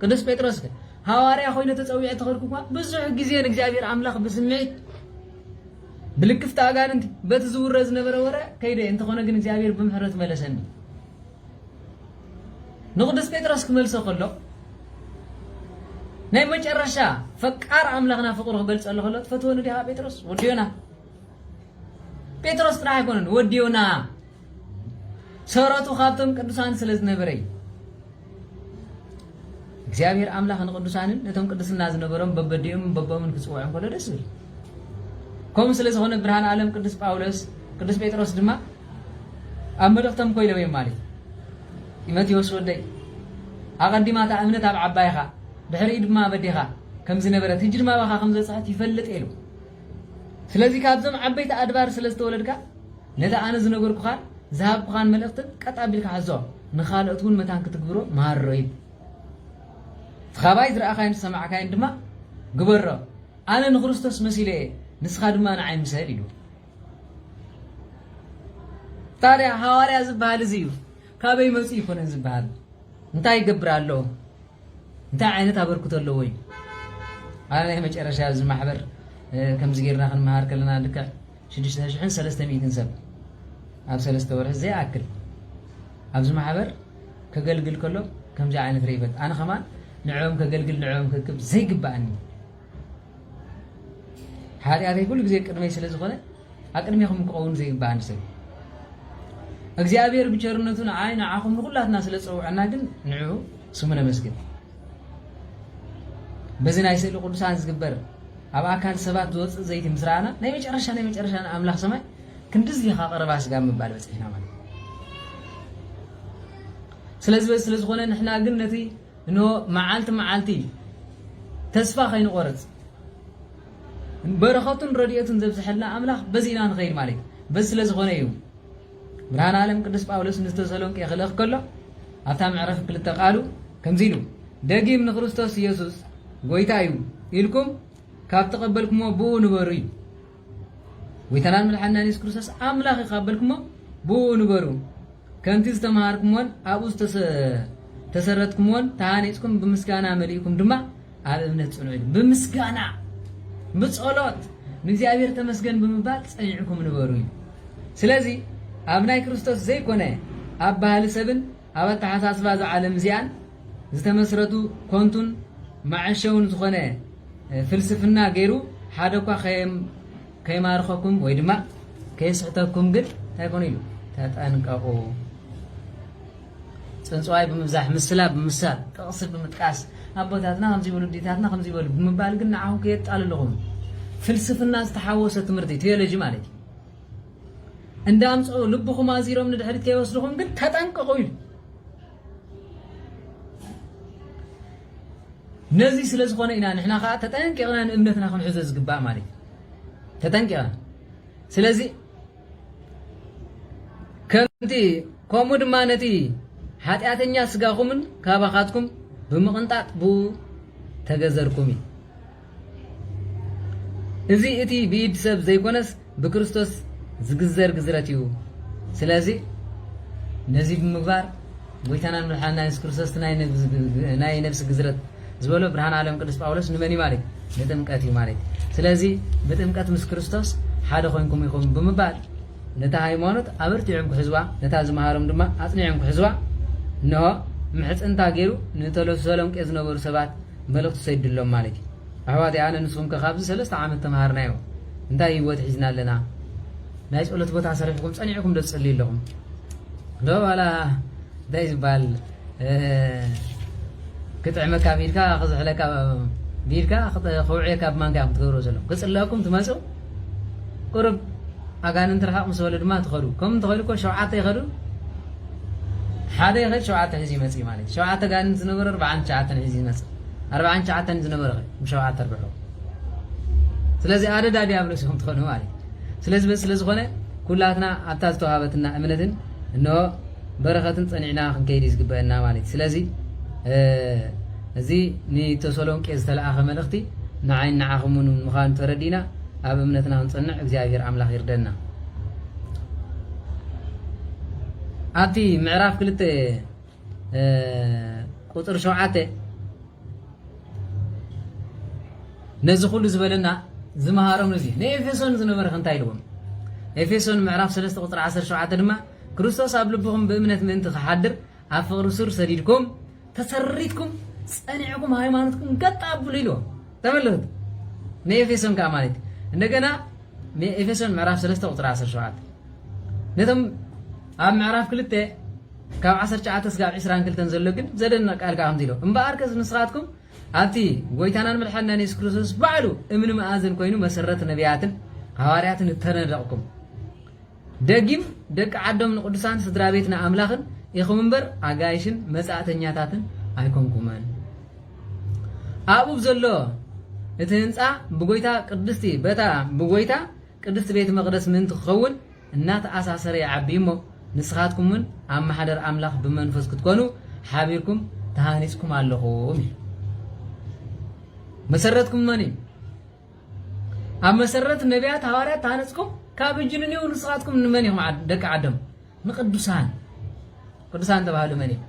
ቅዱስ ጴጥሮስ ከ ሃዋርያ ኮይነ ተጸዊዐ ተኸድኩ እኳ ብዙሕ ግዜ ንእግዚኣብሔር ኣምላኽ ብስምዒት ብልክፍቲ ኣጋንንቲ በቲ ዝውረ ዝነበረ ወረ ከይደ እንተኾነ ግን እግዚኣብሔር ብምሕረቱ መለሰኒ ንቅዱስ ጴጥሮስ ክመልሶ ከሎ ናይ መጨረሻ ፈቃር ኣምላኽና ፍቅሩ ክገልጸሉ ከሎ ትፈትወኒ ዲኻ ጴጥሮስ ወዲ ዮና ጴጥሮስ ጥራሕ ኣይኮነን ወዲ ዮና ሰረቱ ካብቶም ቅዱሳን ስለ ዝነበረ እዩ እግዚኣብሔር ኣምላኽ ንቅዱሳንን ነቶም ቅድስና ዝነበሮም በበዲኦምን በቦምን ክፅውዖም ከሎ ደስ ዝብል ከምኡ ስለ ዝኾነ ብርሃን ዓለም ቅዱስ ጳውሎስ ቅዱስ ጴጥሮስ ድማ ኣብ መልእኽቶም ኮይኖም እዮም ማለት እዩ። ጢሞቴዎስ ወደይ፣ ኣቐዲማ እታ እምነት ኣብ ዓባይኻ፣ ድሕሪኡ ድማ ኣብ ኣዴኻ ከም ዝነበረት፣ ሕጂ ድማ ኣባኻ ከም ዝበጽሐት ይፈልጥ እየ ኢሉ። ስለዚ ካብዞም ዓበይቲ ኣድባር ስለ ዝተወለድካ፣ ነቲ ኣነ ዝነገርኩኻን ዝሃብኩኻን መልእኽትን ቀጥ ኣቢልካ ሓዞ፣ ንኻልኦት እውን መታን ክትግብሮ መሃሮ ይብል። እቲ ኻባይ ዝረኣኻዮን ዝሰማዕካዮን ድማ ግበሮ፣ ኣነ ንክርስቶስ መሲለ እየ፣ ንስኻ ድማ ንዓይ ምሰል ኢሉ። ታዲያ ሃዋርያ ዝበሃል እዚ እዩ ካበይ መፅኡ ይኮነ ዝበሃል እንታይ ይገብር ኣሎ እንታይ ዓይነት ኣበርክቶ ኣለዎ እዩ ኣብ ናይ መጨረሻ እዚ ማሕበር ከምዚ ጌርና ክንመሃር ከለና ልክዕ ሽዱሽተ ሽሕን ሰለስተ ሚእትን ሰብ ኣብ ሰለስተ ወርሒ ዘይኣክል ኣብዚ ማሕበር ከገልግል ከሎ ከምዚ ዓይነት ርኢበት ኣነ ከማን ንዕኦም ከገልግል ንዕኦም ክክብ ዘይግባእኒ ሓጢኣተይ ኩሉ ግዜ ቅድመይ ስለ ዝኾነ ኣብ ቅድሜኹም ክኸውን ዘይግባኣኒ ሰብ እግዚኣብሔር ብቸርነቱ ንዓይ ንዓኹም ንኹላትና ስለ ዝፀውዐና ግን ንዑ ስሙ ነመስግን በዚ ናይ ስእሊ ቅዱሳን ዝግበር ኣብ ኣካል ሰባት ዝወፅእ ዘይቲ ምስ ረኣና ናይ መጨረሻ ናይ መጨረሻ ንኣምላኽ ሰማይ ክንድዚ ኢኻ ቀረባ ስጋ ምባል በፂሕና ማለት ስለዚ በዚ ስለ ዝኾነ ንሕና ግን ነቲ እኖ መዓልቲ መዓልቲ ተስፋ ከይንቆርጽ በረኸቱን ረድኤቱን ዘብዝሐልና ኣምላኽ በዚ ኢና ንኸይድ ማለት እዩ በዚ ስለ ዝኾነ እዩ ብርሃን ዓለም ቅዱስ ጳውሎስ ንተሰሎንቄ ክልእኽ ከሎ ኣብታ ምዕረፍ ክልተ ቃሉ ከምዚ ኢሉ ደጊም ንክርስቶስ ኢየሱስ ጐይታ እዩ ኢልኩም ካብ ተቐበልኩሞ ብኡ ንበሩ እዩ ጎይታናን መድሓኒናን የሱስ ክርስቶስ ኣምላኽ እዩ ካብ በልኩሞ ብኡ ንበሩ ከምቲ ዝተምሃርኩሞን ኣብኡ ዝተሰረትኩሞን ተሃኒጽኩም ብምስጋና መሊእኩም ድማ ኣብ እምነት ጽንዑ ኢሉ ብምስጋና ብጸሎት ንእግዚኣብሔር ተመስገን ብምባል ጸኒዕኩም ንበሩ እዩ ስለዚ ኣብ ናይ ክርስቶስ ዘይኮነ ኣብ ባህሊ ሰብን ኣብ ኣተሓሳስባ ዝዓለም እዚኣን ዝተመስረቱ ኮንቱን መዐሸውን ዝኾነ ፍልስፍና ገይሩ ሓደ እኳ ከይማርኸኩም ወይ ድማ ከየስሕተኩም ግን እንታይ ኮኑ ኢሉ ተጠንቀቑ። ፅንፅዋይ ብምብዛሕ ምስላ ብምሳል ጥቕሲ ብምጥቃስ ኣቦታትና ከምዚ ይበሉ ዲታትና ከምዚ ይበሉ ብምባል ግን ንዓኹም ከየጣልልኹም ፍልስፍና ዝተሓወሰ ትምህርቲ ቴዎሎጂ ማለት እዩ እንዳ ኣምፅኡ ልብኹም ኣዚሮም ንድሕሪት ከይወስድኹም ግን ተጠንቀቑ ኢሉ ነዚ ስለ ዝኾነ ኢና ንሕና ከዓ ተጠንቂቕና ንእምነትና ክንሕዞ ዝግባእ ማለት እዩ ተጠንቂቕና ስለዚ ከምቲ ከምኡ ድማ ነቲ ሓጢኣተኛ ስጋኹምን ካባኻትኩም ብምቕንጣጥ ብኡ ተገዘርኩም እዩ እዚ እቲ ብኢድ ሰብ ዘይኮነስ ብክርስቶስ ዝግዘር ግዝረት እዩ። ስለዚ ነዚ ብምግባር ጎይታናን መድሓንና የሱስ ክርስቶስ ናይ ነብሲ ግዝረት ዝበሎ ብርሃን ዓለም ቅዱስ ጳውሎስ ንመን እዩ ማለት ንጥምቀት እዩ ማለት ስለዚ ብጥምቀት ምስ ክርስቶስ ሓደ ኮንኩም ኢኹም ብምባል ነታ ሃይማኖት ኣበርቲዖም ክሕዝዋ ነታ ዝመሃሮም ድማ ኣጽኒዖም ክሕዝዋ እንሆ ምሕጽንታ ገይሩ ንተለሰሎንቄ ዝነበሩ ሰባት መልእኽቲ ትሰድሎም ማለት እዩ ኣሕዋተይ ኣነ ንስኹም ከ ካብዚ ሰለስተ ዓመት ተምሃርናዮ እንታይ ሂወት ሒዝና ኣለና ናይ ጸሎት ቦታ ሰሪሕኩም ጸኒዕኩም ዶ ትጽልዩ ኣለኹም ዶ ዋላ እንታይ ዝበሃል ክጥዕመካ ብኢድካ ክዝሕለካ ብኢድካ ከውዕየካ ብማንካ ኢኹም ትገብርዎ ዘለኹም ክጽለኩም ትመጹ ቁሩብ ኣጋንንቲ ርሓቕ ምስ በሉ ድማ ትኸዱ ከም እንተኾይኑ እኮ ሸውዓተ ይኸዱ ሓደ ይኸድ ሸውዓተ ሒዙ ይመጽእ ማለት እዩ ሸውዓተ ጋንንቲ ዝነበረ ኣርብዓን ትሽዓተን ሒዙ ይመጽእ ኣርብዓን ትሽዓተን ዝነበረ ኸ ብሸውዓተ ኣርብሑ ስለዚ ኣደዳ ዲያብሎስ ኢኹም ትኾኑ ማለት እዩ ስለዚ በዚ ስለ ዝኾነ ኩላትና ኣብታ ዝተዋሃበትና እምነትን እንሆ በረኸትን ጸኒዕና ክንከይድ እዩ ዝግበእና ማለት እዩ። ስለዚ እዚ ንተሰሎንቄ ዝተለኣኸ መልእኽቲ ንዓይን ንዓኹምን ምዃኑ ተረዲእና ኣብ እምነትና ክንጸንዕ እግዚኣብሔር ኣምላኽ ይርደና። ኣብቲ ምዕራፍ ክልተ ቁፅሪ ሸውዓተ ነዚ ኩሉ ዝበለና ዝመሃሮም እዚ ንኤፌሶን ዝነበረ ክንታይ ኢልዎም ኤፌሶን ምዕራፍ 3 ቁፅሪ 17 ድማ ክርስቶስ ኣብ ልብኹም ብእምነት ምእንቲ ኺሓድር፣ ኣብ ፍቕሪ ሱር ሰዲድኩም፣ ተሰሪትኩም፣ ጸኒዕኩም ሃይማኖትኩም ገጥ ኣብሉ ኢልዎም። ተመልከቱ ንኤፌሶን ከኣ ማለት እዩ። እንደገና ንኤፌሶን ምዕራፍ ሰለስተ ቁጽሪ ዓሰርተ ሸውዓተ ነቶም ኣብ ምዕራፍ ክልተ ካብ ዓሰርተ ትሽዓተ ስጋብ ዕስራን ክልተን ዘሎ ግን ዘደንቕ ቃል ከኣ ከምዚ ኢሎ እምበኣር ከስ ንስኻትኩም ኣብቲ ጎይታናን መድሓኒናን የሱስ ክርስቶስ ባዕሉ እምኒ መኣዝን ኮይኑ መሰረት ነቢያትን ሃዋርያትን እተነደቕኩም ደጊም ደቂ ዓዶም ንቅዱሳን ስድራቤት ንኣምላኽን ኢኹም እምበር ኣጋይሽን መጻእተኛታትን ኣይኮንኩምን። ኣብኡ ብዘሎ እቲ ህንጻ ብጎይታ ቅድስቲ በታ ብጎይታ ቅድስቲ ቤተ መቅደስ ምእንቲ ክኸውን እናተኣሳሰረ ይዓቢ እሞ ንስኻትኩም እውን ኣብ ማሕደር ኣምላኽ ብመንፈስ ክትኮኑ ሓቢርኩም ተሃኒጽኩም ኣለኹም እዩ መሰረትኩም መን እዩ ኣብ መሰረት ነቢያት ሃዋርያት ተሃነጽኩም ካብ እጅ ንኔው ንስኻትኩም ንመን እዮም ደቂ ዓዶም ንቅዱሳን ቅዱሳን ተባህሉ መን እዮም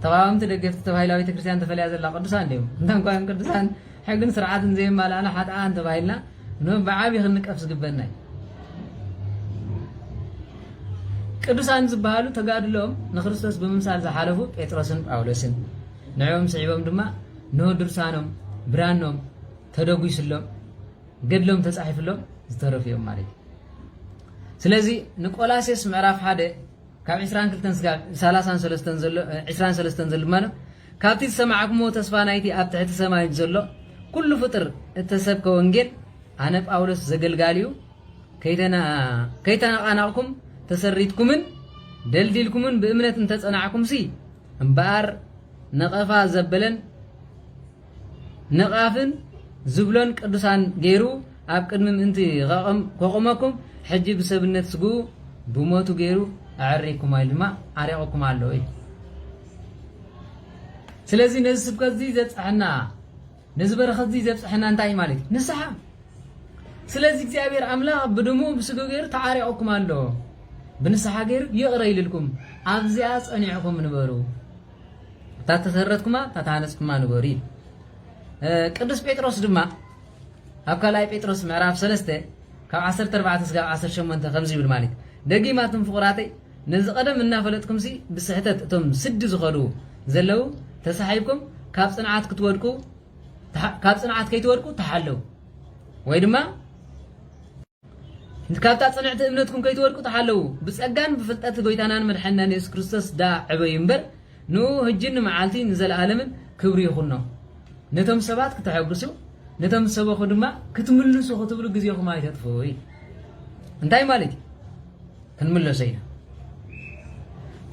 ተቃዋምቲ ደገፍቲ ተባሂላ ቤተክርስትያን ተፈልያ ዘላ ቅዱሳን ድዮም እንታ እንኳን ቅዱሳን ሕግን ስርዓትን ዘየማልኣና ሓጥኣን ተባሂልና ብዓብዪ ክንቀፍ ዝግበና እዩ ቅዱሳን ዝበሃሉ ተጋድሎም ንክርስቶስ ብምምሳል ዝሓለፉ ጴጥሮስን ጳውሎስን ንዕኦም ስዒቦም ድማ እነሆ ድርሳኖም ብራኖም ተደጒስሎም ገድሎም ተጻሒፍሎም ዝተረፉ እዮም ማለት እዩ ስለዚ ንቆላሴስ ምዕራፍ ሓደ ካብ 22 ስጋብ 33 ዘሎ 23 ዘሎ ማለት ካብቲ ዝሰማዕክሞ ተስፋ ናይቲ ኣብ ትሕቲ ሰማይ ዘሎ ኩሉ ፍጥር እተሰብከ ወንጌል ኣነ ጳውሎስ ዘገልጋሊኡ ከይተነቓናቕኩም ተሰሪትኩምን ደልዲልኩምን ብእምነት እንተጸናዕኩምሲ እምበኣር ነቐፋ ዘበለን ነቓፍን ዝብሎን ቅዱሳን ገይሩ ኣብ ቅድሚ ምእንቲ ከቑመኩም ሕጂ ብሰብነት ስግኡ ብሞቱ ገይሩ ኣዕሪኩም ኢሉ ድማ ዓሪቑኩም ኣሎ እዩ ስለዚ ነዚ ስብከት እዚ ዘብፅሐና ነዚ በረኸትዚ ዘብጽሐና እንታይ እዩ ማለት እዩ? ንስሓ። ስለዚ እግዚኣብሔር ኣምላኽ ብድሙ ብስግኡ ገይሩ ተዓሪቑኩም ኣሎ። ብንስሓ ገይሩ ይቕረ ኢልልኩም ኣብዚኣ ጸኒዕኩም ንበሩ። እታ ተሰረትኩማ እታ ተሃነጽኩማ ንበሩ እዩ። ቅዱስ ጴጥሮስ ድማ ኣብ ካልኣይ ጴጥሮስ ምዕራፍ 3 ካብ 14 ስጋብ 18 ከምዚ ይብል ማለት ደጊማትም ፍቑራተይ ነዚ ቀደም እናፈለጥኩምሲ ብስሕተት እቶም ስዲ ዝኸዱ ዘለው ተሳሒብኩም ካብ ፅንዓት ክትወድቁ ካብ ፅንዓት ከይትወድቁ ተሓለው ወይ ድማ ካብታ ፅንዕቲ እምነትኩም ከይትወድቁ ተሓለው ብፀጋን ብፍልጠት ጎይታናን መድሓኒናን የሱስ ክርስቶስ ዳ ዕበዩ እምበር ንኡ ህጅን ንመዓልቲ ንዘለኣለምን ክብሪ ይኹኖ ነቶም ሰባት ክተሐግሱ ነቶም ዝሰበኹ ድማ ክትምልሱ ክትብሉ ግዜኹም ኣይተጥፍኡ እንታይ ማለት እዩ ክንምለሶ ኢና።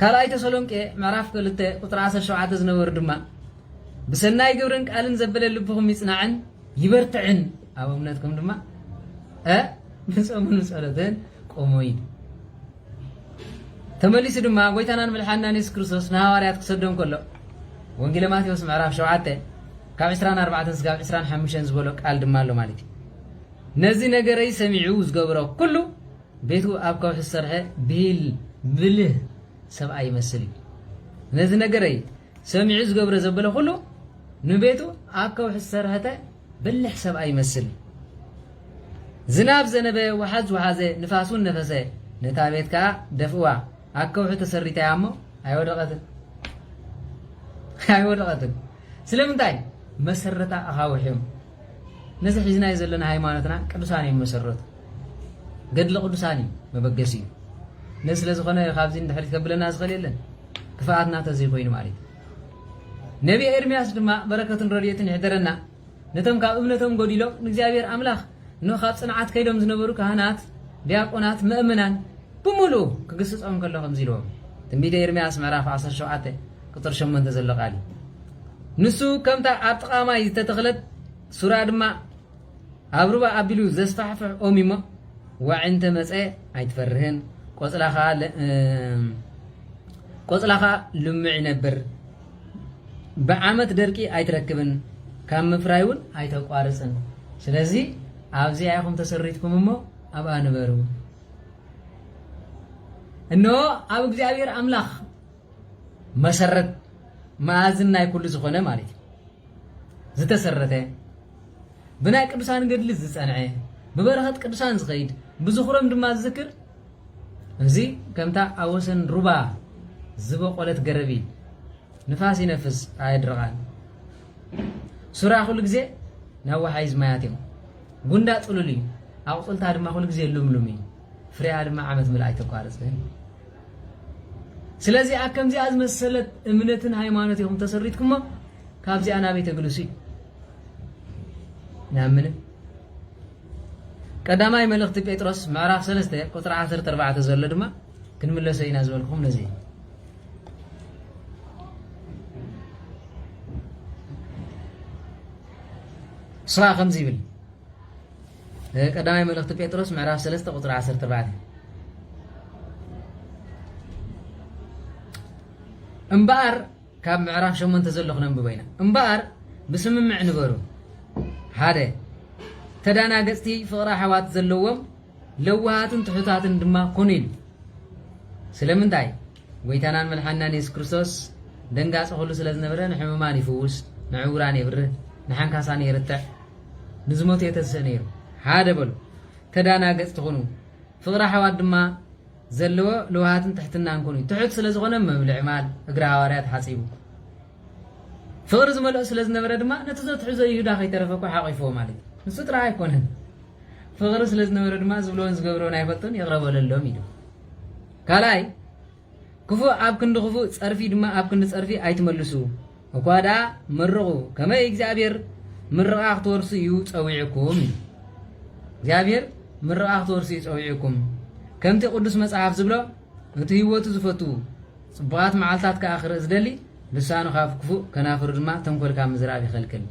ካልኣይ ተሰሎንቄ ምዕራፍ ክልተ ቁፅሪ ዓሰርተ ሸውዓተ ዝነበሩ ድማ ብሰናይ ግብርን ቃልን ዘበለ ልብኹም ይጽናዕን ይበርትዕን ኣብ እምነትኩም ድማ ንጾምን ጸሎትን ቆሙ እዩ ተመሊሱ ድማ ጎይታናን ምልሓናን የሱስ ክርስቶስ ንሃዋርያት ክሰዶም ከሎ ወንጌለ ማቴዎስ ምዕራፍ 7 ካብ 24 ስጋብ 25 ዝበሎ ቃል ድማ ኣሎ ማለት እዩ ነዚ ነገረይ ሰሚዑ ዝገብሮ ኩሉ ቤቱ ኣብ ከውሒ ዝሰርሐ ብሂል ብልህ ሰብኣይ ይመስል እዩ። ነዚ ነገረይ ሰሚዑ ዝገብረ ዘበለ ኩሉ ንቤቱ ኣብ ከውሒ ዝሰርሐተ ብልሕ ሰብኣይ ይመስል። ዝናብ ዘነበ ውሓዝ ውሓዘ ንፋስ እውን ነፈሰ ነታ ቤት ከዓ ደፍእዋ ኣብ ከውሒ ተሰሪታያ እሞ ኣይወደቐትን ኣይወደቐትን ስለምንታይ መሰረታ ኣኻውሕ እዮም። ነዚ ሒዝናዮ ዘለና ሃይማኖትና ቅዱሳን እዮም መሰረቱ። ገድሊ ቅዱሳን እዩ መበገሲ እዩ። ነዚ ስለ ዝኾነ ካብዚ ንድሕሪት ከብለና ዝኽእል የለን። ክፍኣትና ተዘይ ኮይኑ ማለት እዩ። ነቢየ ኤርምያስ ድማ በረከትን ረድኤትን ይሕደረና። ነቶም ካብ እምነቶም ጎዲሎም ንእግዚኣብሔር ኣምላኽ ን ካብ ጽንዓት ከይዶም ዝነበሩ ካህናት፣ ዲያቆናት፣ መእመናን ብምሉኡ ክግስጾም ከሎ ከምዚ ኢልዎም ትንቢተ ኤርምያስ ምዕራፍ 17 ቁጽሪ ሸሞንተ ዘሎ ቃል እዩ። ንሱ ከምታ ኣብ ጥቓ ማይ ዝተተኽለት ሱራ ድማ ኣብ ሩባ ኣቢሉ ዘስፋሕፍሕ ኦም እዩሞ ዋዒ እንተ መጸ ኣይትፈርህን፣ ቆጽላ ከኣ ልሙዕ ይነብር፣ ብዓመት ደርቂ ኣይትረክብን፣ ካብ ምፍራይ እውን ኣይተቋርጽን። ስለዚ ኣብዚኣ ኢኹም ተሰሪትኩም እሞ ኣብኣ ንበሩ። እነሆ ኣብ እግዚኣብሔር ኣምላኽ መሰረት መኣዝን ናይ ኩሉ ዝኾነ ማለት እዩ ዝተሰረተ ብናይ ቅዱሳን ገድሊ ዝጸንዐ ብበረኸት ቅዱሳን ዝኸይድ ብዝኽሮም ድማ ዝዝክር እዚ ከምታ ኣብ ወሰን ሩባ ዝበቆለት ገረብ እዩ ንፋስ ይነፍስ ኣየድርቓን ሱራ ኩሉ ግዜ ናብ ወሓይዝ ማያት እዮም ጉንዳ ጥሉል እዩ ኣቑፅልታ ድማ ኩሉ ግዜ ልምሉም እዩ ፍሬኣ ድማ ዓመት ምልኣ ኣይተቋርጽን። ስለዚ ኣብ ከምዚኣ ዝመሰለት እምነትን ሃይማኖት ኢኹም ተሰሪትኩሞ ካብዚኣ ናበይ ተግልሱ እዩ ናብ ምንም ቀዳማይ መልእኽቲ ጴጥሮስ ምዕራፍ 3 ቁጥሪ 14 ዘሎ ድማ ክንምለሶ ኢና ዝበልኩም ነዚ ስራ ከምዚ ይብል ቀዳማይ መልእኽቲ ጴጥሮስ ምዕራፍ 3 ቁፅሪ 14 እምበኣር ካብ ምዕራፍ ሸሞንተ ዘሎ ክነንብቦ ኢና እምበኣር ብስምምዕ ንበሩ ሓደ ተዳናገፅቲ ፍቕሪ ኣሕዋት ዘለዎም ለዋሃትን ትሑታትን ድማ ኩኑ ኢሉ ስለምንታይ ጎይታናን መልሓናን የሱስ ክርስቶስ ደንጋፂ ኩሉ ስለ ዝነበረ ንሕሙማን ይፍውስ ንዕውራን የብርህ ንሓንካሳን የርትዕ ንዝሞተ የተስእ ነይሩ ሓደ በሉ ተዳናገጽቲ ኩኑ ፍቕሪ ኣሕዋት ድማ ዘለዎ ልውሃትን ትሕትናን ኩኑ እዩ ትሑት ስለ ዝኾነ መብልዒ ማል እግሪ ሃዋርያት ሓጺቡ ፍቕሪ ዝመልኦ ስለ ዝነበረ ድማ ነቲ ዘትሕዞ ይሁዳ ከይተረፈ እኳ ሓቂፍዎ ማለት እዩ ንሱ ጥራሕ ኣይኮነን ፍቕሪ ስለ ዝነበረ ድማ ዝብልዎን ዝገብርዎን ኣይፈልጡን ይቕረበለሎም ኢሉ ካልኣይ ክፉእ ኣብ ክንዲ ክፉእ ጸርፊ ድማ ኣብ ክንዲ ጸርፊ ኣይትመልሱ እኳ ደኣ መርቑ ከመይ እግዚኣብሔር ምርቓ ክትወርሱ እዩ ጸዊዑኩም ኢሉ እግዚኣብሔር ምርቓ ክትወርሱ እዩ ጸዊዑኩም ከምቲ ቅዱስ መጽሓፍ ዝብሎ እቲ ህይወቱ ዝፈቱ ጽቡቓት መዓልታት ከኣ ክርኢ ዝደሊ ልሳኑ ካብ ክፉእ ከናፍሩ ድማ ተንኮል ካብ ምዝራብ ይኸልክል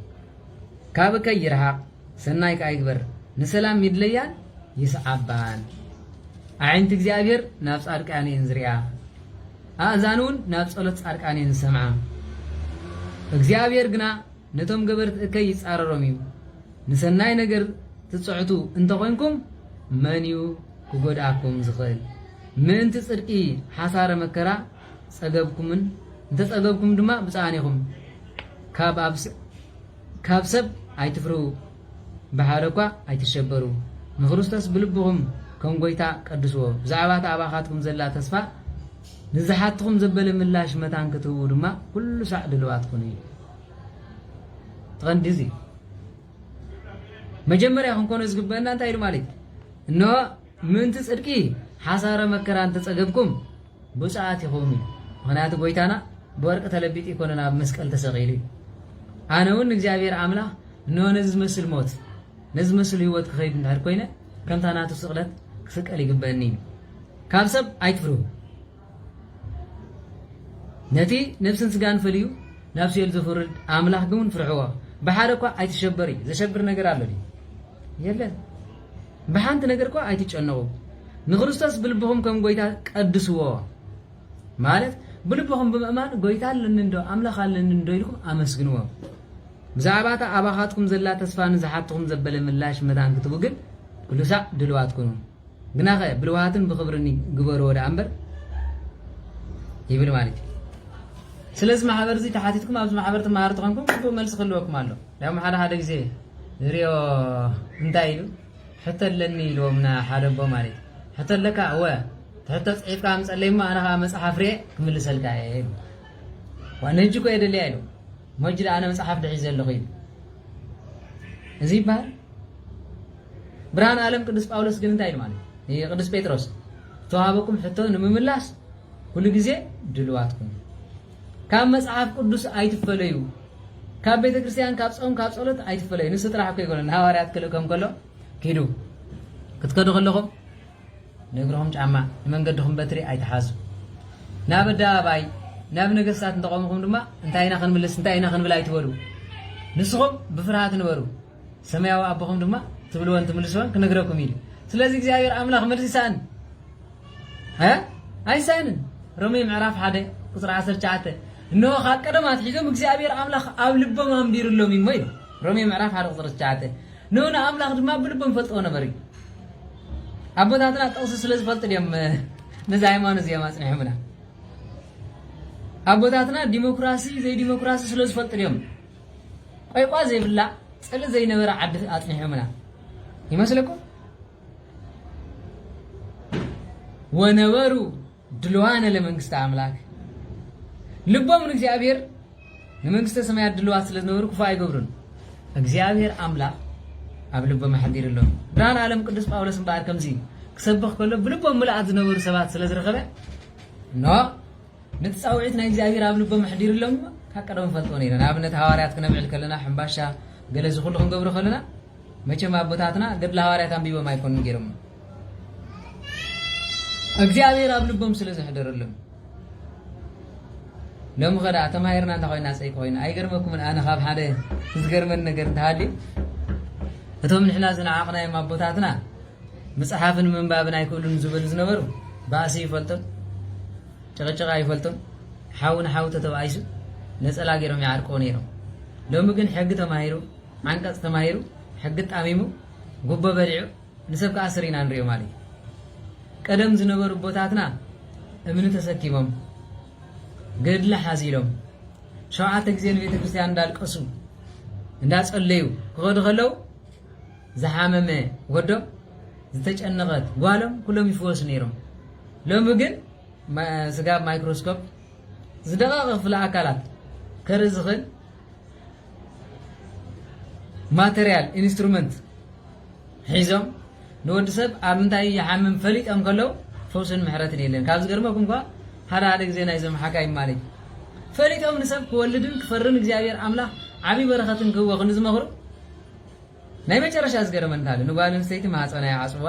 ካብ እከይ ይርሓቕ ሰናይ ከኣ ይግበር ንሰላም ይድለያን ይስዓባን። ኣዒንቲ እግዚኣብሄር ናብ ጻድቃን እየን ዝሪኣ፣ ኣእዛኑ ውን ናብ ጸሎት ጻድቃን እየን ዝሰምዓ። እግዚኣብሄር ግና ነቶም ገበርቲ እከይ ይጻረሮም እዩ። ንሰናይ ነገር ትጽዕቱ እንተ ኾይንኩም መን እዩ ክጎድኣኩም ዝኽእል? ምእንቲ ጽድቂ ሓሳረ መከራ ጸገብኩምን እንተ ጸገብኩም ድማ ብጻኣን ኢኹም። ካብ ኣብ ካብ ሰብ ኣይትፍርሁ ብሓደ እኳ ኣይትሸበሩ ንክርስቶስ ብልብኹም ከም ጎይታ ቀድስዎ ብዛዕባ እታ ኣባኻትኩም ዘላ ተስፋ ንዝሓትኹም ዘበለ ምላሽ መታን ክትህቡ ድማ ኩሉ ሳዕ ድልዋት ኩኑ እዩ እቲ ቀንዲ እዚ መጀመርያ ክንኮኖ ዝግበአና እንታይ ኢሉ ማለት እዩ እነሆ ምእንቲ ጽድቂ ሓሳረ መከራ እንተጸገብኩም ብፁዓት ኢኹም እዩ ምክንያቱ ጎይታና ብወርቂ ተለቢጡ ኣይኮነን ኣብ መስቀል ተሰቂሉ እዩ ኣነ እውን ንእግዚኣብሔር ኣምላኽ እነሆ ነዚ ዝመስል ሞት ነዚ ዝመስል ህይወት ክኸይድ እንድሕር ኮይነ ከምታ ናቱ ስቕለት ክስቀል ይግበኒ እዩ ካብ ሰብ ኣይትፍርሁ ነቲ ነብስን ስጋን ፈልዩ ናብ ሲኦል ዘፍርድ ኣምላኽ ግን ፍርሕዎ ብሓደ እኳ ኣይትሸበር እዩ ዘሸብር ነገር ኣሎ የለን ብሓንቲ ነገር እኳ ኣይትጨነቑ፣ ንክርስቶስ ብልብኹም ከም ጐይታ ቀድስዎ፣ ማለት ብልብኹም ብምእማን ጐይታ ኣለኒ እንዶ፣ ኣምላኽ ኣለኒ እንዶ ኢልኩም ኣመስግንዎ። ብዛዕባ እታ ኣባኻትኩም ዘላ ተስፋ ንዝሓትኹም ዘበለ ምላሽ መታን ክትቡ ግን ኵሉ ሳዕ ድሉዋት ኩኑ፣ ግናኸ ብልውሃትን ብኽብርን ግበርዎ ደኣ እምበር ይብል ማለት እዩ። ስለዚ ማሕበር እዚ ተሓቲትኩም ኣብዚ ማሕበር ትመሃሩ ተኾንኩም ግቡእ መልሲ ክህልወኩም ኣሎ። ያም ሓደ ሓደ ግዜ ንሪኦ እንታይ ኢሉ ሕቶ ኣለኒ ኢልዎም ንሓደ ኣቦ ማለት እዩ ሕቶ ኣለካ እወ ትሕቶ ፅሒፍካ ኣምፀለይ እሞ ኣነ ከዓ መፅሓፍ ርኤ ክምልሰልካ እየ ኢሉ ዋን ህጂ እኮ የደልያ ኢሉ ሞጅ ኣነ መፅሓፍ ድሒዘ ኣለኹ ኢሉ እዚ ይበሃል ብርሃን ዓለም ቅዱስ ጳውሎስ ግን እንታይ ኢሉ ማለት እዩ ቅዱስ ጴጥሮስ ተዋሃበኩም ሕቶ ንምምላስ ኩሉ ግዜ ድልዋትኩም ካብ መጽሓፍ ቅዱስ ኣይትፈለዩ ካብ ቤተ ክርስቲያን ካብ ጾም ካብ ጸሎት ኣይትፈለዩ ንሱ ጥራሕ እኮ ይኮነ ንሃዋርያት ክልእከም ከሎ ኪዱ ክትከዱ ከለኹም ንእግርኹም ጫማ ንመንገድኹም በትሪ ኣይትሓዙ ናብ ኣደባባይ ናብ ነገስታት እንተቆምኹም ድማ እንታይ ኢና ክንምልስ እንታይ ኢና ክንብል ኣይትበሉ ንስኹም ብፍርሃት ንበሩ ሰማያዊ ኣቦኹም ድማ ትብልዎን ትምልስዎን ክነግረኩም እዩ ስለዚ እግዚኣብሔር ኣምላኽ መልሲ ሰኣን ሀ ኣይሰእንን ሮሜ ምዕራፍ ሓደ ቁፅሪ ዓሰርተ ትሽዓተ እነሆ ካብ ቀደም ኣትሒዞም እግዚኣብሔር ኣምላኽ ኣብ ልቦም ኣንቢርሎም እዩ እሞ ኢሉ ሮሜ ምዕራፍ ሓደ ቁፅሪ ትሽዓተ ን ንኣምላኽ ድማ ብልቦም ይፈልጥዎ ነበር እዩ ኣቦታትና ጥቕሲ ስለ ዝፈልጡ ድዮም ነዚ ሃይማኖት እዚኦም ኣፅኒሖምና ኣቦታትና ዲሞክራሲ ዘይዲሞክራሲ ስለ ዝፈልጡ ድዮም ቆይቋ ዘይብላ ፅልእ ዘይነበረ ዓዲ ኣፅኒሖምና ይመስለኩም ወነበሩ ድልዋነ ለመንግስተ ኣምላክ ልቦም ንእግዚኣብሔር ንመንግስተ ሰማያት ድልዋት ስለ ዝነበሩ ክፉእ ኣይገብሩን እግዚኣብሔር ኣምላክ ኣብ ልቦም ኣሕዲሩ ኣሎ ብርሃን ዓለም ቅዱስ ጳውሎስ እምበኣር ከምዚ ክሰብኽ ከሎ ብልቦም ምልኣት ዝነበሩ ሰባት ስለ ዝረኸበ እኖ ነቲ ፃውዒት ናይ እግዚኣብሔር ኣብ ልቦም ኣሕዲሩ ኣሎ ካብ ቀደም ፈልጦ ነይረ ንኣብነት ሃዋርያት ክነብዕል ከለና ሕምባሻ ገለ ዝኩሉ ክንገብሮ ከለና መቸም ኣቦታትና ገድለ ሃዋርያት ኣንቢቦም ኣይኮኑን ገይሮሞ እግዚኣብሔር ኣብ ልቦም ስለ ዘሕደረሎም ሎሚ ከደኣ ተማሂርና እንተ ኮይና ፀይቂ ኮይና ኣይገርመኩምን ኣነ ካብ ሓደ ዝገርመን ነገር እንተሃልዩ እቶም ንሕና ዝነዓቕናዮም ኣቦታትና ምፅሓፍን ምንባብን ኣይክእሉን ዝበሉ ዝነበሩ ባእሲ ይፈልጡን ጭቕጭቕ ኣይፈልጡን ሓው ንሓው ተተባኢሱ ነፀላ ገይሮም ይዓርቀው ነይሮም ሎሚ ግን ሕጊ ተማሂሩ ዓንቀጽ ተማሂሩ ሕጊ ጣሚሙ ጉቦ በሊዑ ንሰብ ክኣስር ኢና ንሪኦ ማለት እዩ። ቀደም ዝነበሩ ኣቦታትና እምኒ ተሰኪሞም ገድሊ ሓዚሎም ሸውዓተ ግዜ ንቤተክርስትያን እንዳልቀሱ እንዳጸለዩ ክኸዱ ከለው ዝሓመመ ወዶም ዝተጨነቐት ጓሎም ኩሎም ይፍወሱ ነይሮም። ሎሚ ግን ስጋብ ማይክሮስኮፕ ዝደቐቐ ክፍለ ኣካላት ከርኢ ዝኽእል ማተርያል ኢንስትሩመንት ሒዞም ንወዲ ሰብ ኣብ ምንታይ ይሓምም ፈሊጦም ከለው ፈውስን ምሕረትን የለን ካብ ዝገርመኩም እኳ ሓደ ሓደ ግዜ ናይዞም ሓካይም ማለት ፈሊጦም ንሰብ ክወልድን ክፈርን እግዚኣብሔር ኣምላኽ ዓብዪ በረኸትን ክህቦ ክንዲ ዝመኽሩ ናይ መጨረሻ ዝገረመኒ እንታለ ንጓል ኣንስተይቲ ማህጸና ይዓጽዋ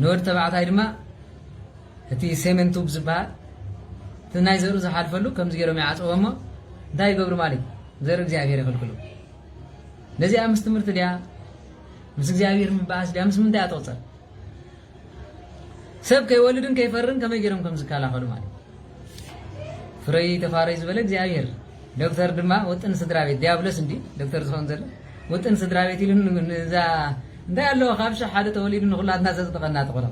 ንወድ ተባዕታይ ድማ እቲ ሴሜን ቱብ ዝበሃል እቲ ናይ ዘርኡ ዝሓልፈሉ ከምዚ ገይሮም ይዓጽዎ እሞ እንታይ ይገብሩ ማለት ዘርኢ እግዚኣብሔር ይኽልክሉ ነዚኣ ምስ ትምህርቲ ድያ ምስ እግዚኣብሔር ምበኣስ ድያ ምስ ምንታይ እያ ትቕጽር ሰብ ከይወልድን ከይፈርን ከመይ ገይሮም ከም ዝከላኸሉ ማለት ፍረይ ተፋረይ ዝበለ እግዚኣብሔር ዶክተር ድማ ውጥን ስድራ ቤት ዲያብሎስ እንዲ ዶክተር ዝኸውን ዘሎ ውጥን ስድራ ቤት ኢሉ ንዛ እንታይ ኣለዎ ካብ ሽሕ ሓደ ተወሊዱ ንኩላትና ዘፅድቐና ተኾነ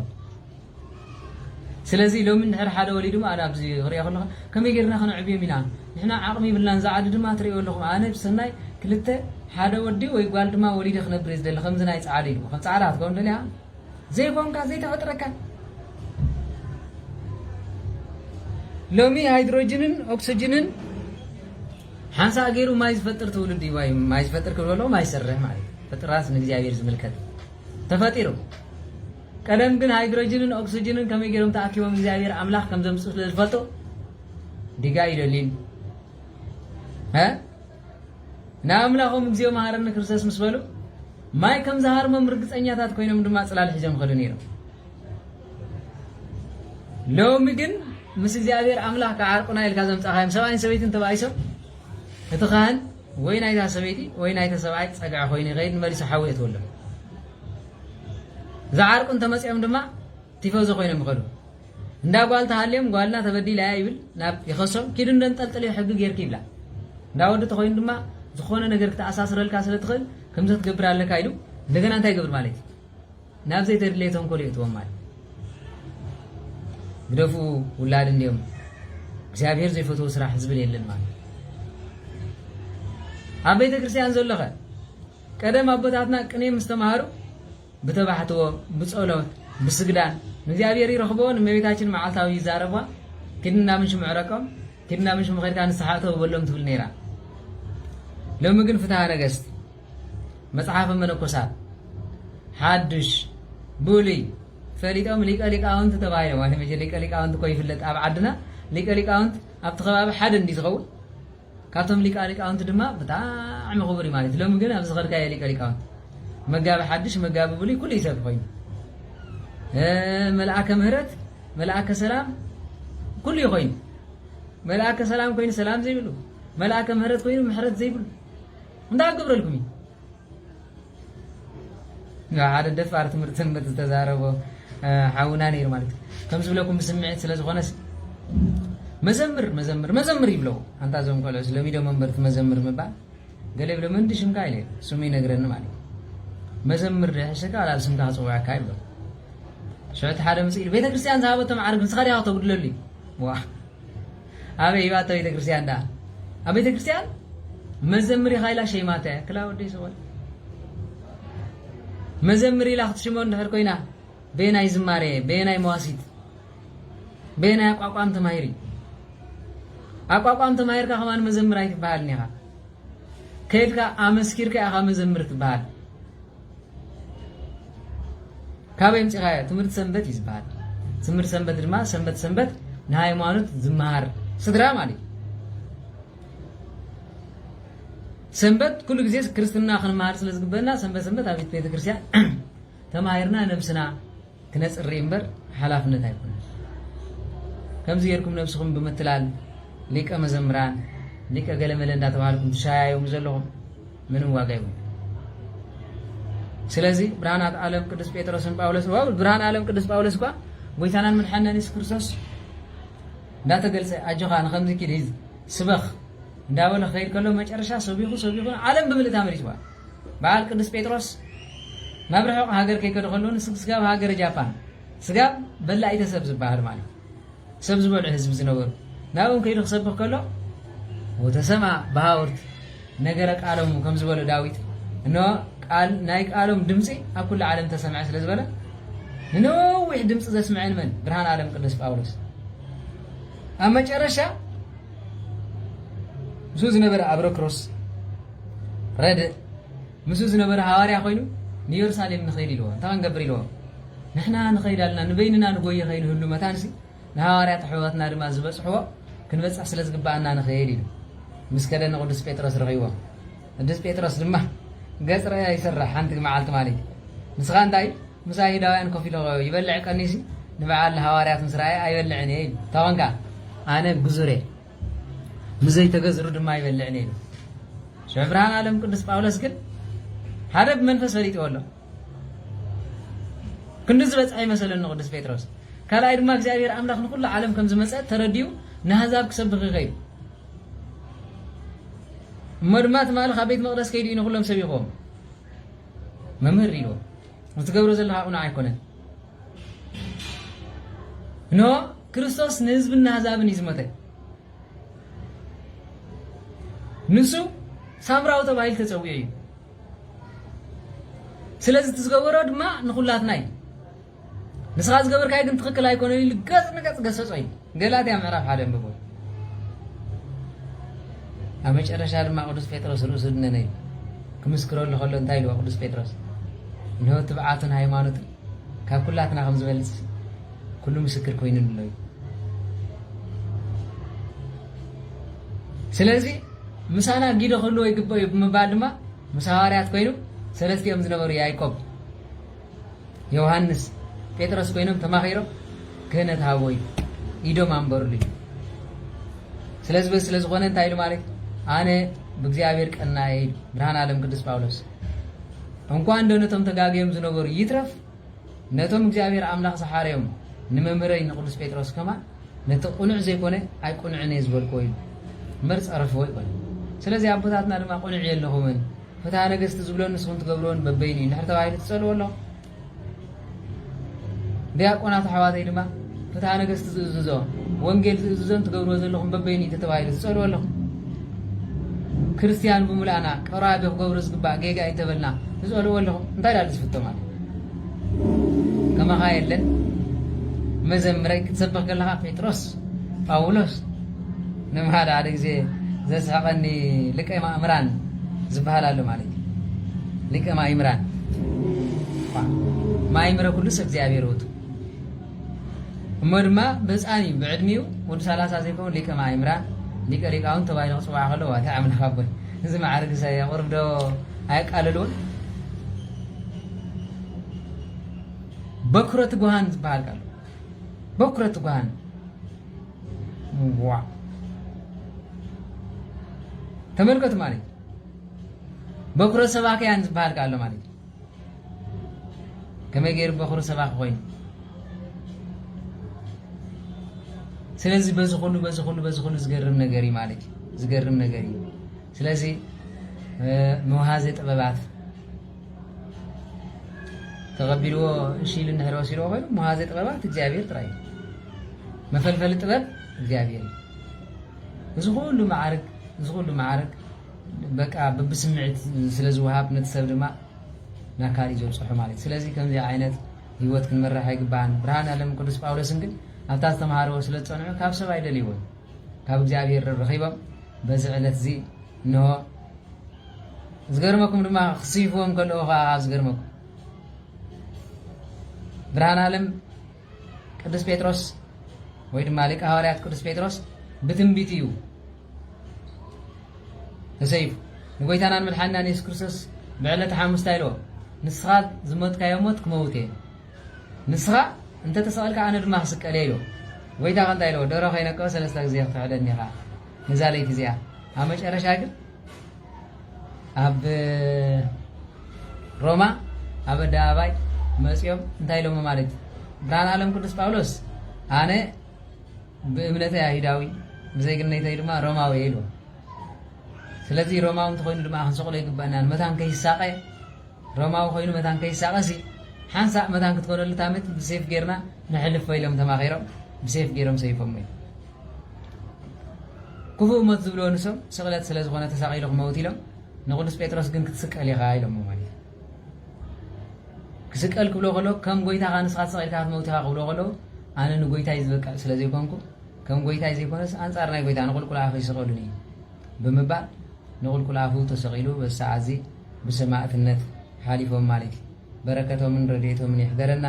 ስለዚ ሎሚ ንድሕር ሓደ ወሊዱ ማለት ኣብዚ ክሪኦ ከለኹ ከመይ ጌርና ከነዕብዮም ኢና ንሕና ዓቕሚ ይብልናን እዛ ዓዲ ድማ ትሪእዮ ኣለኹም ኣነ ብሰናይ ክልተ ሓደ ወዲ ወይ ጓል ድማ ወሊደ ክነብር ዝደሊ ከምዚ ናይ ፃዕዱ ኢሉ ከም ፃዕዳ ክትከውን ደልያ ዘይኮንካ ዘይተፈጥረካ ሎሚ ሃይድሮጅንን ኦክስጅንን ሓንሳእ ገይሩ ማይ ዝፈጥር ትውልድ እዩ ማይ ማይ ዝፈጥር ክብለሎ ማይ ሰርሕ ማለት ፍጥራት ንእግዚኣብሔር ዝምልከት ተፈጢሩ ቀደም ግን ሃይድሮጅንን ኦክስጅንን ከመይ ገይሮም ተኣኪቦም እግዚኣብሔር ኣምላኽ ከም ዘምፅኡ ስለ ዝፈልጡ ዲጋ ይደልዩ ንኣምላኾም እግዚኦ መሃረኒ ክርስቶስ ምስ በሉ ማይ ከም ዝሃርሞም ርግጸኛታት ኮይኖም ድማ ጽላል ሒዞም ኸዱ ነይሮም። ሎሚ ግን ምስ እግዚኣብሔር ኣምላኽ ክዓርቁና ኢልካ ዘምጻኻዮም ሰብኣይን ሰበይትን ተባኢሶም እቲ ካህን ወይ ናይታ ሰበይቲ ወይ ናይተ ሰብኣይ ጸግዐ ኮይኑ ይኸይድ ንመሊሱ ሓዊ የትወሎም ዝዓርቁ እንተመፂኦም ድማ ቲፈዞ ኮይኖም ይኸዱ እንዳ ጓል ተሃልዮም ጓልና ተበዲላ እያ ይብል ናብ ይኸሶም ኪዱ እንደንጠልጥልዮ ሕጊ ጌርኪ ይብላ እንዳ ወዲ ተኮይኑ ድማ ዝኾነ ነገር ክትኣሳስረልካ ስለ ትኽእል ከምዚ ክትገብር ኣለካ ኢሉ እንደገና እንታይ ይገብር ማለት እዩ ናብ ዘይተድለየ ተንኮል ይእትዎም ማለት ግደፉ ውላድ እንዲኦም እግዚኣብሔር ዘይፈትዎ ስራሕ ዝብል የለን ማለት ኣብ ቤተ ክርስቲያን ዘሎኸ ቀደም ኣቦታትና ቅኔ ምስ ተማሃሩ ብተባሕትዎ፣ ብጸሎት፣ ብስግዳን ንእግዚኣብሔር ይረኽቦ፣ ንእመቤታችን መዓልታዊ ይዛረቧ፣ ኪድ እንዳ ምንሽሙ ዕረቆም፣ ኪድ እንዳ ምንሽሙ ከድካ ንስሓ እተው በሎም ትብል ነይራ። ሎሚ ግን ፍትሃ ነገሥት፣ መጽሓፈ መነኮሳት፣ ሓዱሽ፣ ብሉይ ፈሊጦም ሊቀ ሊቃውንት ተባሂሎም ማለት መቼ ሊቀ ሊቃውንት እኮ ይፍለጥ ኣብ ዓድና ሊቀ ሊቃውንት ኣብቲ ከባቢ ሓደ እንዲዩ ዝኸውን ካብቶም ሊቃ ሊቃውንቲ ድማ ብጣዕሚ ክቡር እዩ ማለት እዩ ሎሚ ግን ኣብ ዝኸድካዮ ሊቀ ሊቃውንቲ መጋቢ ሓድሽ መጋቢ ብሉይ ኩሉ ይሰብ ኮይኑ መልኣከ ምህረት መልኣከ ሰላም ኩሉ እዩ ኮይኑ መልኣከ ሰላም ኮይኑ ሰላም ዘይብሉ መልኣከ ምህረት ኮይኑ ምሕረት ዘይብሉ እንታይ ክገብረልኩም እዩ ሓደ ደፋር ትምህርቲ ሰንበት ዝተዛረቦ ሓውና ነይሩ ማለት እዩ ከምዚ ብለኩም ብስምዒት ስለ ዝኾነስ መዘምር መዘምር መዘምር ይብለው ኣንታ እዞም ቆልዑስ ሎሚ ዶ መንበርቲ መዘምር ምባል ገለ ይብሎ ምንዲ ሽምካ ኢለ ስሙ ይነግረኒ ማለት እዩ መዘምር ድሕሽካ ኣብ ስምካ ክፅውዐካ ይብሎ ሽዑ እቲ ሓደ ምስ ኢሉ ቤተ ክርስቲያን ዝሃበቶ መዓርግ ንስኻ ዲኻ ክተጉድለሉ እዩ ኣበይ እባ እታ ቤተክርስትያን ደኣ ኣብ ቤተክርስትያን መዘምር ኢኻ ኢላ ሸይማታ እያ ክላ ወደይ ሰወል መዘምር ኢላ ክትሽሞ እንድሕር ኮይና በየናይ ዝማሬ በየናይ መዋሲት በየናይ ኣቋቋም ተማሂሪ ኣቋቋም ተማሂርካ ከማን መዘምር ኣይትበሃልን ኢኻ ከይድካ ኣመስኪርካ ኢኻ መዘምር ትበሃል ካበይ ኣምጺኻዮ ትምህርቲ ሰንበት እዩ ዝበሃል ትምህርቲ ሰንበት ድማ ሰንበት ሰንበት ንሃይማኖት ዝመሃር ስድራ ማለት እዩ ሰንበት ኩሉ ግዜ ክርስትና ክንመሃር ስለ ዝግበና ሰንበት ሰንበት ኣብ ቤተ ክርስቲያን ተማሂርና ነብስና ክነጽሪ እምበር ሓላፍነት ኣይኮነን ከምዚ ጌርኩም ነብስኹም ብምትላል ሊቀ መዘምራን ሊቀ ገለመለ እንዳተባሃልኩም ትሻያዩሙ ዘለኹም ምንም ዋጋ ይብሉ ስለዚ ብርሃናት ዓለም ቅዱስ ጴጥሮስን ጳውሎስ ጳውሎስን ብርሃን ዓለም ቅዱስ ጳውሎስ እኳ ጎይታናን መድሓንናን የሱስ ክርስቶስ እንዳተገልጸ ኣጆኻ ንከምዚ ኪድ ስበኽ እንዳበለ ክኸይድ ከሎ መጨረሻ ሰቢኹ ሰቢኹ ዓለም ብምልእታ መሊስዋ በዓል ቅዱስ ጴጥሮስ ናብ ርሑቕ ሃገር ከይከደ ከሎ ንስብ ስጋብ ሃገረ ጃፓን ስጋብ በላኢተ ሰብ ዝበሃሉ ማለት ሰብ ዝበልዑ ህዝቢ ዝነበሩ ናብኦም ከይዱ ክሰብኽ ከሎ ወተሰማ ብሃውርት ነገረ ቃሎሙ ከም ዝበሎ ዳዊት እነሆ ቃል ናይ ቃሎም ድምፂ ኣብ ኩሉ ዓለም ተሰምዐ ስለ ዝበለ ንነዊሕ ድምፂ ዘስምዐን መን ብርሃን ዓለም ቅዱስ ጳውሎስ ኣብ መጨረሻ ምስኡ ዝነበረ ኣብረክሮስ ረድእ ምስኡ ዝነበረ ሃዋርያ ኮይኑ ንየሩሳሌም ንኸይድ ኢልዎ እንታይ ክንገብር ኢልዎ ንሕና ንኸይድ ኣለና ንበይንና ንጎየ ከይንህሉ መታንሲ ንሃዋርያት ኣሕዋትና ድማ ዝበፅሕዎ ክንበፅሕ ስለ ዝግባኣና ንኸይድ ኢሉ ምስ ከደ ንቅዱስ ጴጥሮስ ረኺብዎ ቅዱስ ጴጥሮስ ድማ ገጽ ርኣያ ይሰርሕ ሓንቲ መዓልቲ ማለት እዩ ንስኻ እንታይ ምስ ኣይሁዳውያን ኮፍ ኢሉ ይበልዕ ቀኒዩሲ ንበዓል ሃዋርያት ምስ ረኣየ ኣይበልዕን እየ ኢሉ እንታይ ኮንካ ኣነ ግዙር እየ ምስ ዘይተገዝሩ ድማ ኣይበልዕን እየ ኢሉ ሽዑ ብርሃን ዓለም ቅዱስ ጳውሎስ ግን ሓደ ብመንፈስ ፈሊጥዎ ኣሎ ክንዲ ዝበፅሐ ይመሰለኒ ቅዱስ ጴጥሮስ ካልኣይ ድማ እግዚኣብሔር ኣምላኽ ንኩሉ ዓለም ከም ዝመፀ ተረዲኡ ንኣህዛብ ክሰብኽ ይኸይድ እሞ ድማ ትማሊ ካብ ቤት መቕደስ ከይዱ እዩ ንኩሎም ሰቢኾም መምህር ሪዎ ዝትገብሮ ዘለካ ቁኑዕ ኣይኮነን ኖ ክርስቶስ ንህዝብና ህዛብን እዩ ዝመተ ንሱ ሳምራዊ ተባሂሉ ተፀዊዑ እዩ ስለዚ እቲ ዝገበሮ ድማ ንኩላትና እዩ ንስኻ ዝገበርካይ ግን ትኽክል ኣይኮነን ኢሉ ገጽ ንገጽ ገሰጾ እዩ ገላትያ ምዕራፍ ሓደ ንብቦ ኣብ መጨረሻ ድማ ቅዱስ ጴጥሮስ ርእሱ ድነነ እዩ ክምስክረሉ ከሎ እንታይ ኢልዎ ቅዱስ ጴጥሮስ እንሆ ትብዓቱን ሃይማኖትን ካብ ኩላትና ከም ዝበልፅ ኩሉ ምስክር ኮይኑ ኣሎ እዩ ስለዚ ምሳና ጊዶ ክህልዎ ይግበ እዩ ብምባል ድማ ምስ ሃዋርያት ኮይኑ ሰለስቲኦም ዝነበሩ ያይቆብ ዮውሃንስ ጴጥሮስ ኮይኖም ተማኺሮም ክህነት ሃቦ እዩ ኢዶም ኣንበርሉ እዩ ስለዚ ስለ ዝኾነ እንታይ ኢሉ ማለት ኣነ ብእግዚኣብሔር ቀናየ ኢሉ ብርሃን ዓለም ቅዱስ ጳውሎስ እንኳ እንዶ ነቶም ተጋግዮም ዝነበሩ ይትረፍ ነቶም እግዚኣብሔር ኣምላኽ ዝሓረዮም ንመምህረይ ንቅዱስ ጴጥሮስ ከማ ነቲ ቁኑዕ ዘይኮነ ኣይ ቁኑዕን እየ ዝበልክዎ ኢሉ መር ጸረፍዎ ይኮነ ስለዚ ኣቦታትና ድማ ቁኑዕ የለኹምን ፍትሃ ነገስቲ ዝብሎን ንስኹም ትገብርዎን በበይኑ እዩ እንድሕር ተባሂሉ ትጸልዎ ኣለኹም ዲያቆናት ኣሕዋተይ ድማ ፍትሃ ነገስቲ ዝእዝዞ ወንጌል ዝእዝዞን ትገብርዎ ዘለኹም በበይኑ እዩ ተባሂሉ ትጸልዎ ኣለኹም ክርስትያን ብምልኣና ቀራቢ ክገብሩ ዝግባእ ጌጋ እዩ እንተበልና ትጸልዎ ኣለኹም እንታይ ዳሉ ዝፍቶ ማለት ከማኻ የለን መዘምረይ ክትሰብኽ ከለኻ ጴጥሮስ ጳውሎስ ንምሃድ ሓደ ግዜ ዘስሕቐኒ ሊቀ ማእምራን ዝበሃል ኣሎ ማለት እዩ ሊቀ ማእምራን ማእምረ ኩሉ ሰብ እግዚኣብሔር ውእቱ እሞ ድማ ብህፃን እዩ ብዕድሚኡ ወዲ ሰላሳ ዘይከውን ሊቀ ማእምራን ሊቀ ሊቃውን ተባሂሉ ክፅዋዕ ከሎ ዋታ ኣምላኽ ኣቦይ እዚ መዓርግ ሰ ቁርብ ዶ ኣየቃልልዎን በኩረ ትጉሃን ዝበሃል ቃል በኩረት ጓል ዋ ተመልከቱ ማለት በኩረ ሰባክያን ዝበሃል ኣሎ ማለት እዩ ከመይ ገይሩ በኩረ ሰባኪ ኮይኑ ስለዚ በዚ ኩሉ በዚ ኩሉ በዚ ኩሉ ዝገርም ነገር እዩ ማለት እዩ ዝገርም ነገር እዩ ስለዚ መውሃዘ ጥበባት ተቐቢልዎ እሺ ኢሉ እንድሕር ወሲድዎ ኮይኑ መሃዚ ጥበባት እግዚኣብሔር ጥራይ እዩ። መፈልፈሊ ጥበብ እግዚኣብሔር እዩ። እዚ ኩሉ መዓርግ እዚ ኩሉ መዓርግ በቃ ብብስምዒት ስለ ዝወሃብ ነቲ ሰብ ድማ ናብ ካልእ ዘብፅሑ ማለት እዩ። ስለዚ ከምዚ ዓይነት ህይወት ክንመራሕ ኣይግባህን። ብርሃን ዓለም ቅዱስ ጳውሎስን ግን ኣብታ ዝተምሃርዎ ስለ ዝፀንዑ ካብ ሰብ ኣይደልይዎን ካብ እግዚኣብሔር ረኺቦም በዚ ዕለት እዚ እንሆ ዝገርመኩም ድማ ክስይፍዎም ከለዉ ከዓ ካብ ዝገርመኩም ብርሃን ዓለም ቅዱስ ጴጥሮስ ወይ ድማ ሊቀ ሃዋርያት ቅዱስ ጴጥሮስ ብትንቢት እዩ ተሰይፉ ንጎይታናን መድሓንናን የሱስ ክርስቶስ ብዕለተ ሓሙስታ ኢልዎ ንስኻ ዝሞትካዮ ሞት ክመውት እየ ንስኻ እንተተሰቐልካ ኣነ ድማ ክስቀል እየ ኢልዎ ጎይታ ከ እንታይ ኢልዎ ደሮ ከይነቀወ ሰለስተ ግዜ ክትሕደኒ ኢኻ ነዛ ለይቲ እዚኣ ኣብ መጨረሻ ግን ኣብ ሮማ ኣብ ኣደባባይ መፅኦም እንታይ ኢሎሞ ማለት እዩ ብርሃን ዓለም ቅዱስ ጳውሎስ ኣነ ብእምነተይ ኣይሁዳዊ ብዜግነተይ ድማ ሮማዊ እየ ኢልዎ ስለዚ ሮማዊ እንተኮይኑ ድማ ክንሰቕሎ ይግባእና መታን ከይሳቐ ሮማዊ ኮይኑ መታን ከይሳቐ ሲ ሓንሳእ መታን ክትኮነሉ ታምት ብሴፍ ጌርና ንሕልፎ ኢሎም ተማኺሮም ብሴፍ ጌሮም ሰይፎም እዩ ክፉእ ሞት ዝብልዎ ንሶም ስቕለት ስለ ዝኾነ ተሳቒሉ ክመውት ኢሎም ንቕዱስ ጴጥሮስ ግን ክትስቀል ኢኻ ኢሎሞ ማለት እዩ ክስቀል ክብሎ ከሎ ከም ጎይታኻ ንስኻ ተሰቒልካ ክትመውት ኢኻ ክብሎ ከለዉ ኣነ ንጎይታይ ዝበቅዕ ስለ ዘይኮንኩ ከም ጎይታይ ዘይኮነስ ኣንጻር ናይ ጎይታ ንቑልቁል ኣፈ ይስቐሉኒ እዩ ብምባል ንቑልቁል ኣፉ ተሰቒሉ በዚ ሰዓት እዚ ብሰማእትነት ሓሊፎም ማለት እዩ በረከቶምን ረድኤቶምን ይሕደረና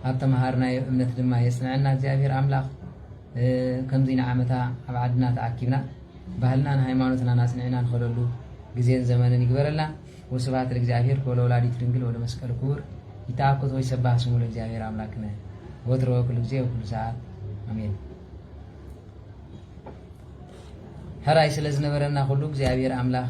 ኣብ ተመሃርናዮ እምነት ድማ የፅንዐና እግዚኣብሔር ኣምላክ ከምዙይ ንዓመታ ኣብ ዓድና ተኣኪብና ባህልናን ሃይማኖትናን ኣፅኒዕና ንኸደሉ ግዜን ዘመንን ይግበረልና ወስብሐት ለእግዚኣብሔር ወለወላዲቱ ድንግል ወለመስቀሉ ክቡር ይተኣኮት ወይ ሰባህ ስሙ ለእግዚኣብሔር ኣምላክነ ወትሮ ኩሉ ግዜ ወኩሉ ሰዓት ኣሜን። ሕራይ ስለ ዝነበረና ኩሉ እግዚኣብሔር ኣምላኽ